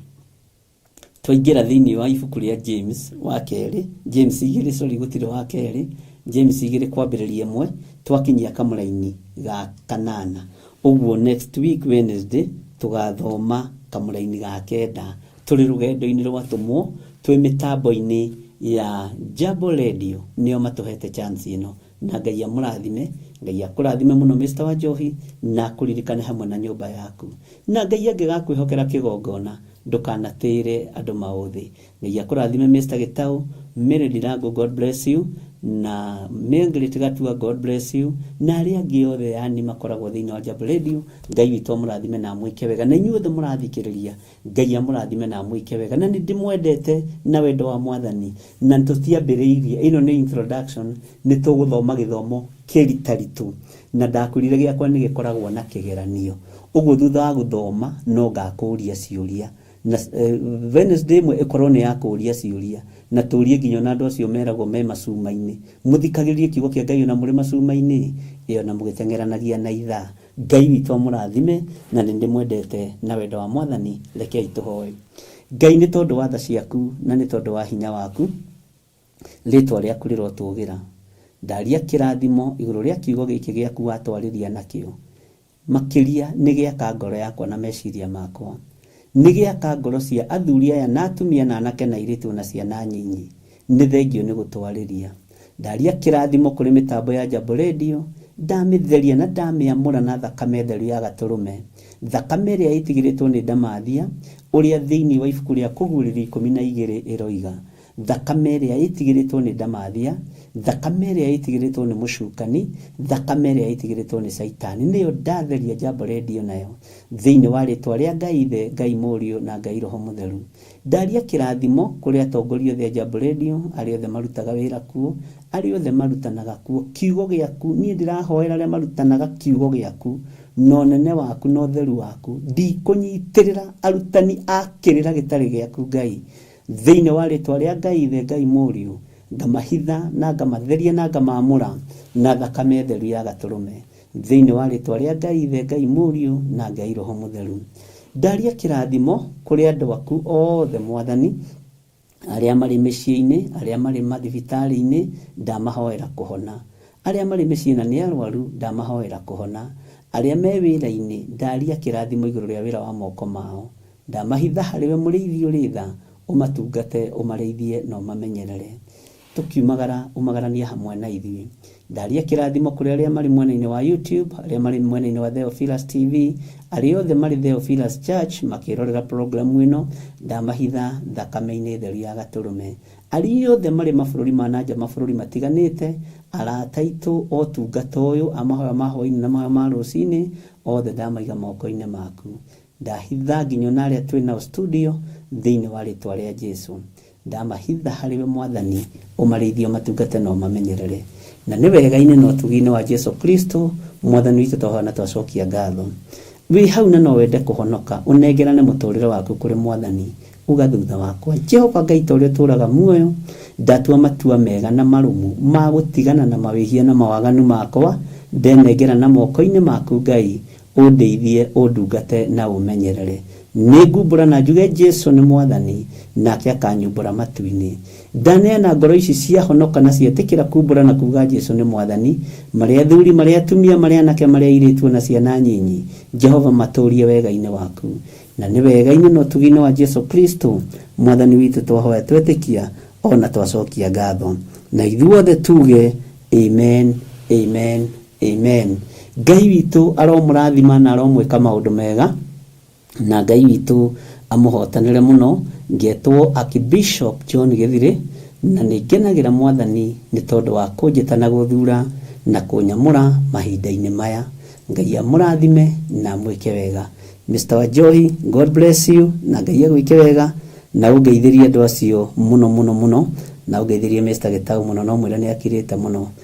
twaingĩra thĩinĩ wa ibuku rĩa James wa kerĩ James igĩrĩ sorry gũtirĩ wa kerĩ James igĩrĩ kwambĩrĩria ĩmwe twakinyia kamũraini ga kanana Ũguo next week Wednesday tũgathoma kamũraini ga kenda tũrĩ rũgendoinĩ rwa tũmwo twĩ mĩtamboinĩ ya Jambo Radio nĩo matũhete chance ĩno na Ngai amũrathime, Ngai akũrathime mũno Mister Wanjohi na akũririkane hamwe na nyũmba yaku. Na Ngai angĩgakwĩhokera kĩgongona ndũkanatĩĩre andũ maũthĩ. Ngai akũrathime Mister Gĩtaũ, Mary Ndirango God bless you, na Margaret Gatua God bless you, na arĩa angĩ othe yaani makoragwo thĩinĩ wa Jambo Radio, Ngai witũ amũrathime na amwĩke wega, na inyuothe mũrathikĩrĩria, Ngai amũrathime na amwĩke wega, na nĩndĩmwendete na wendo wa Mwathani, na tũtiambĩrĩirie, ĩno nĩ introduction, nĩtũgũthoma gĩthomo kĩritaritũ, na ndakwĩrire gĩakwa nĩgĩkoragwo na kĩgeranio, ũguo thutha wa gũthoma no ngakũria ciũria. Na Wednesday ĩmwe ĩkorwo nĩ ya kũũria ciũria, na tũũrie nginya o na andũ acio meragwo me macuma-inĩ, Mũthikagĩrĩrie kiugo kĩa Ngai o na mũrĩ macuma-inĩ? ĩ, o na mũgĩteng'eranagia na ithaa. Ngai witũ amũrathime, na nĩ ndĩmwendete na wendo wa Mwathani, rekei tũhoe. Ngai, nĩ tondũ wa tha ciaku na nĩ tondũ wa hinya waku, rĩĩtwa rĩaku rĩrotũũgĩra. Ndaria kĩrathimo igũrũ rĩa kiugo gĩkĩ gĩaku watwarĩria nakĩo. Makĩria, nĩ gĩaka ngoro yakwa na meciria makwa. Nĩ gĩaka ngoro cia athuri aya na atumia na anake na airĩtu o na ciana nyinyi. Nĩ thengiũ nĩ gũtwarĩria. Ndaria kĩrathimo kũrĩ mĩtambo ya Jambo Radio, ndamĩtheria na ndamĩamũra na thakame theru ya Gatũrũme, thakame ĩrĩa ĩtigĩrĩtwo nĩ ndamathia ũrĩa thĩinĩ wa ibuku rĩa Kũguũrĩrio ikũmi na igĩrĩ ĩroiga, thakame ĩrĩa ĩtigĩrĩtwo nĩ ndamathia, thakame ĩrĩa ĩtigĩrĩtwo nĩ mũcukani, thakame ĩrĩa ĩtigĩrĩtwo nĩ caitani, nĩyo ndatheria njamba rendio nayo, thĩinĩ wa rĩtwa rĩa Ngai Ithe, Ngai Mũriũ, na Ngai Roho Mũtheru. Ndaria kĩrathimo kũrĩ atongoria othe a Jambo Radio, arĩa othe marutaga wĩra kuo, arĩa othe marutanaga kuo, kiugo gĩaku, niĩ ndĩrahoera arĩa marutanaga kiugo gĩaku, na ũnene waku, na ũtheru waku, ndikũnyitĩrĩra arutani a kĩrĩra gĩtarĩ gĩaku Ngai, Thĩinĩ wa rĩĩtwa rĩa Ngai Ithe, Ngai Mũriũ, ngamahitha na ngamatheria na ngamaamũra na thakame theru ya Gatũrũme. Thĩinĩ wa rĩĩtwa rĩa Ngai Ithe, Ngai Mũriũ, na Ngai Roho Mũtheru. Ndaria kĩrathimo kũrĩ andũ aku othe, Mwathani, arĩa marĩ mĩciĩ-inĩ, arĩa marĩ mathibitarĩ-inĩ, ndamahoera kũhona. Arĩa marĩ mĩciĩ na nĩ arwaru, ndamahoera kũhona. Arĩa me wĩra-inĩ, ndaria kĩrathimo igũrũ rĩa wĩra wa moko mao. Ndamahitha harĩ we mũrĩithi ũrĩ tha, ũmatungate, ũmarĩithie na ũmamenyerere. Tũkiumagara, umagaranie hamwe na ithuĩ. Ndaria kĩrathimo kũrĩ arĩa marĩ mwena-inĩ wa YouTube, arĩa marĩ mwena-inĩ wa Theophilus TV, arĩa othe marĩ Theophilus Church makĩrorera programu ĩno, ndamahitha thakame-inĩ theru ya Gatũrũme. Arĩa othe marĩ mabũrũri ma na nja, mabũrũri matiganĩte, arata aitũ a ũtungata ũyũ, a mahoya ma hwaĩ-inĩ na mahoya ma rũcinĩ, othe ndamaiga moko-inĩ maku. Ndahitha nginya ona arĩa twĩ nao studio thĩinĩ wa rĩtwa rĩa Jesu. Ndamahitha harĩ we Mwathani, ũmarĩithie ũmatungate na ũmamenyerere. Na nĩ wegainĩ na ũtugiinĩ wa Jesu Kristo Mwathani witũ twahoya na twacokia ngatho. Wĩ hau na no wende kũhonoka, ũnengerane mũtũũrĩre waku kũrĩ Mwathani, uga thutha wakwa, Jehova Ngai ta ũrĩa ũtũũraga muoyo, ndatua matua mega na marũmu ma gũtigana na mawĩhia na mawaganu makwa, ndenengera na mokoinĩ maku Ngai, Ũndeithie ũndungate na ũũmenyerere. Nĩngumbũra na njuge, Jesu nĩ Mwathani, nake akanyumbũra matu-inĩ. Ndaneana ngoro ici ciahonoka na cietĩkĩra kumbũra na kuuga Jesu nĩ Mwathani, marĩ athuri, marĩ atumia, marĩ anake, marĩ airĩtu o na ciana nyinyi, Jehova, matũũrie wega-inĩ waku. Na nĩ wega-inĩ na ũtugi-inĩ wa Jesu Kristo, Mwathani witũ, twahoya twetĩkia o na twacokia ngatho. Na ithuothe tuuge, Amen, Amen, Amen. Ngai witũ aromũrathima na aromwĩka maũndũ mega na Ngai witũ amũhotanĩre mũno. Ngetwo Archbishop John Gĩthirĩ na nĩ ngenagĩra Mwathani nĩ tondũ wa kũnjĩta na gũthura na kũnyamũra mahinda-inĩ maya. Ngai amũrathime na amwĩke wega. Mister Wanjohi, God bless you na Ngai agwĩke wega na ũngeithĩrie andũ acio mũno mũno mũno na ũngeithĩrie Mister Gĩtaũ mũno na ũmwĩre nĩ akirĩte mũno.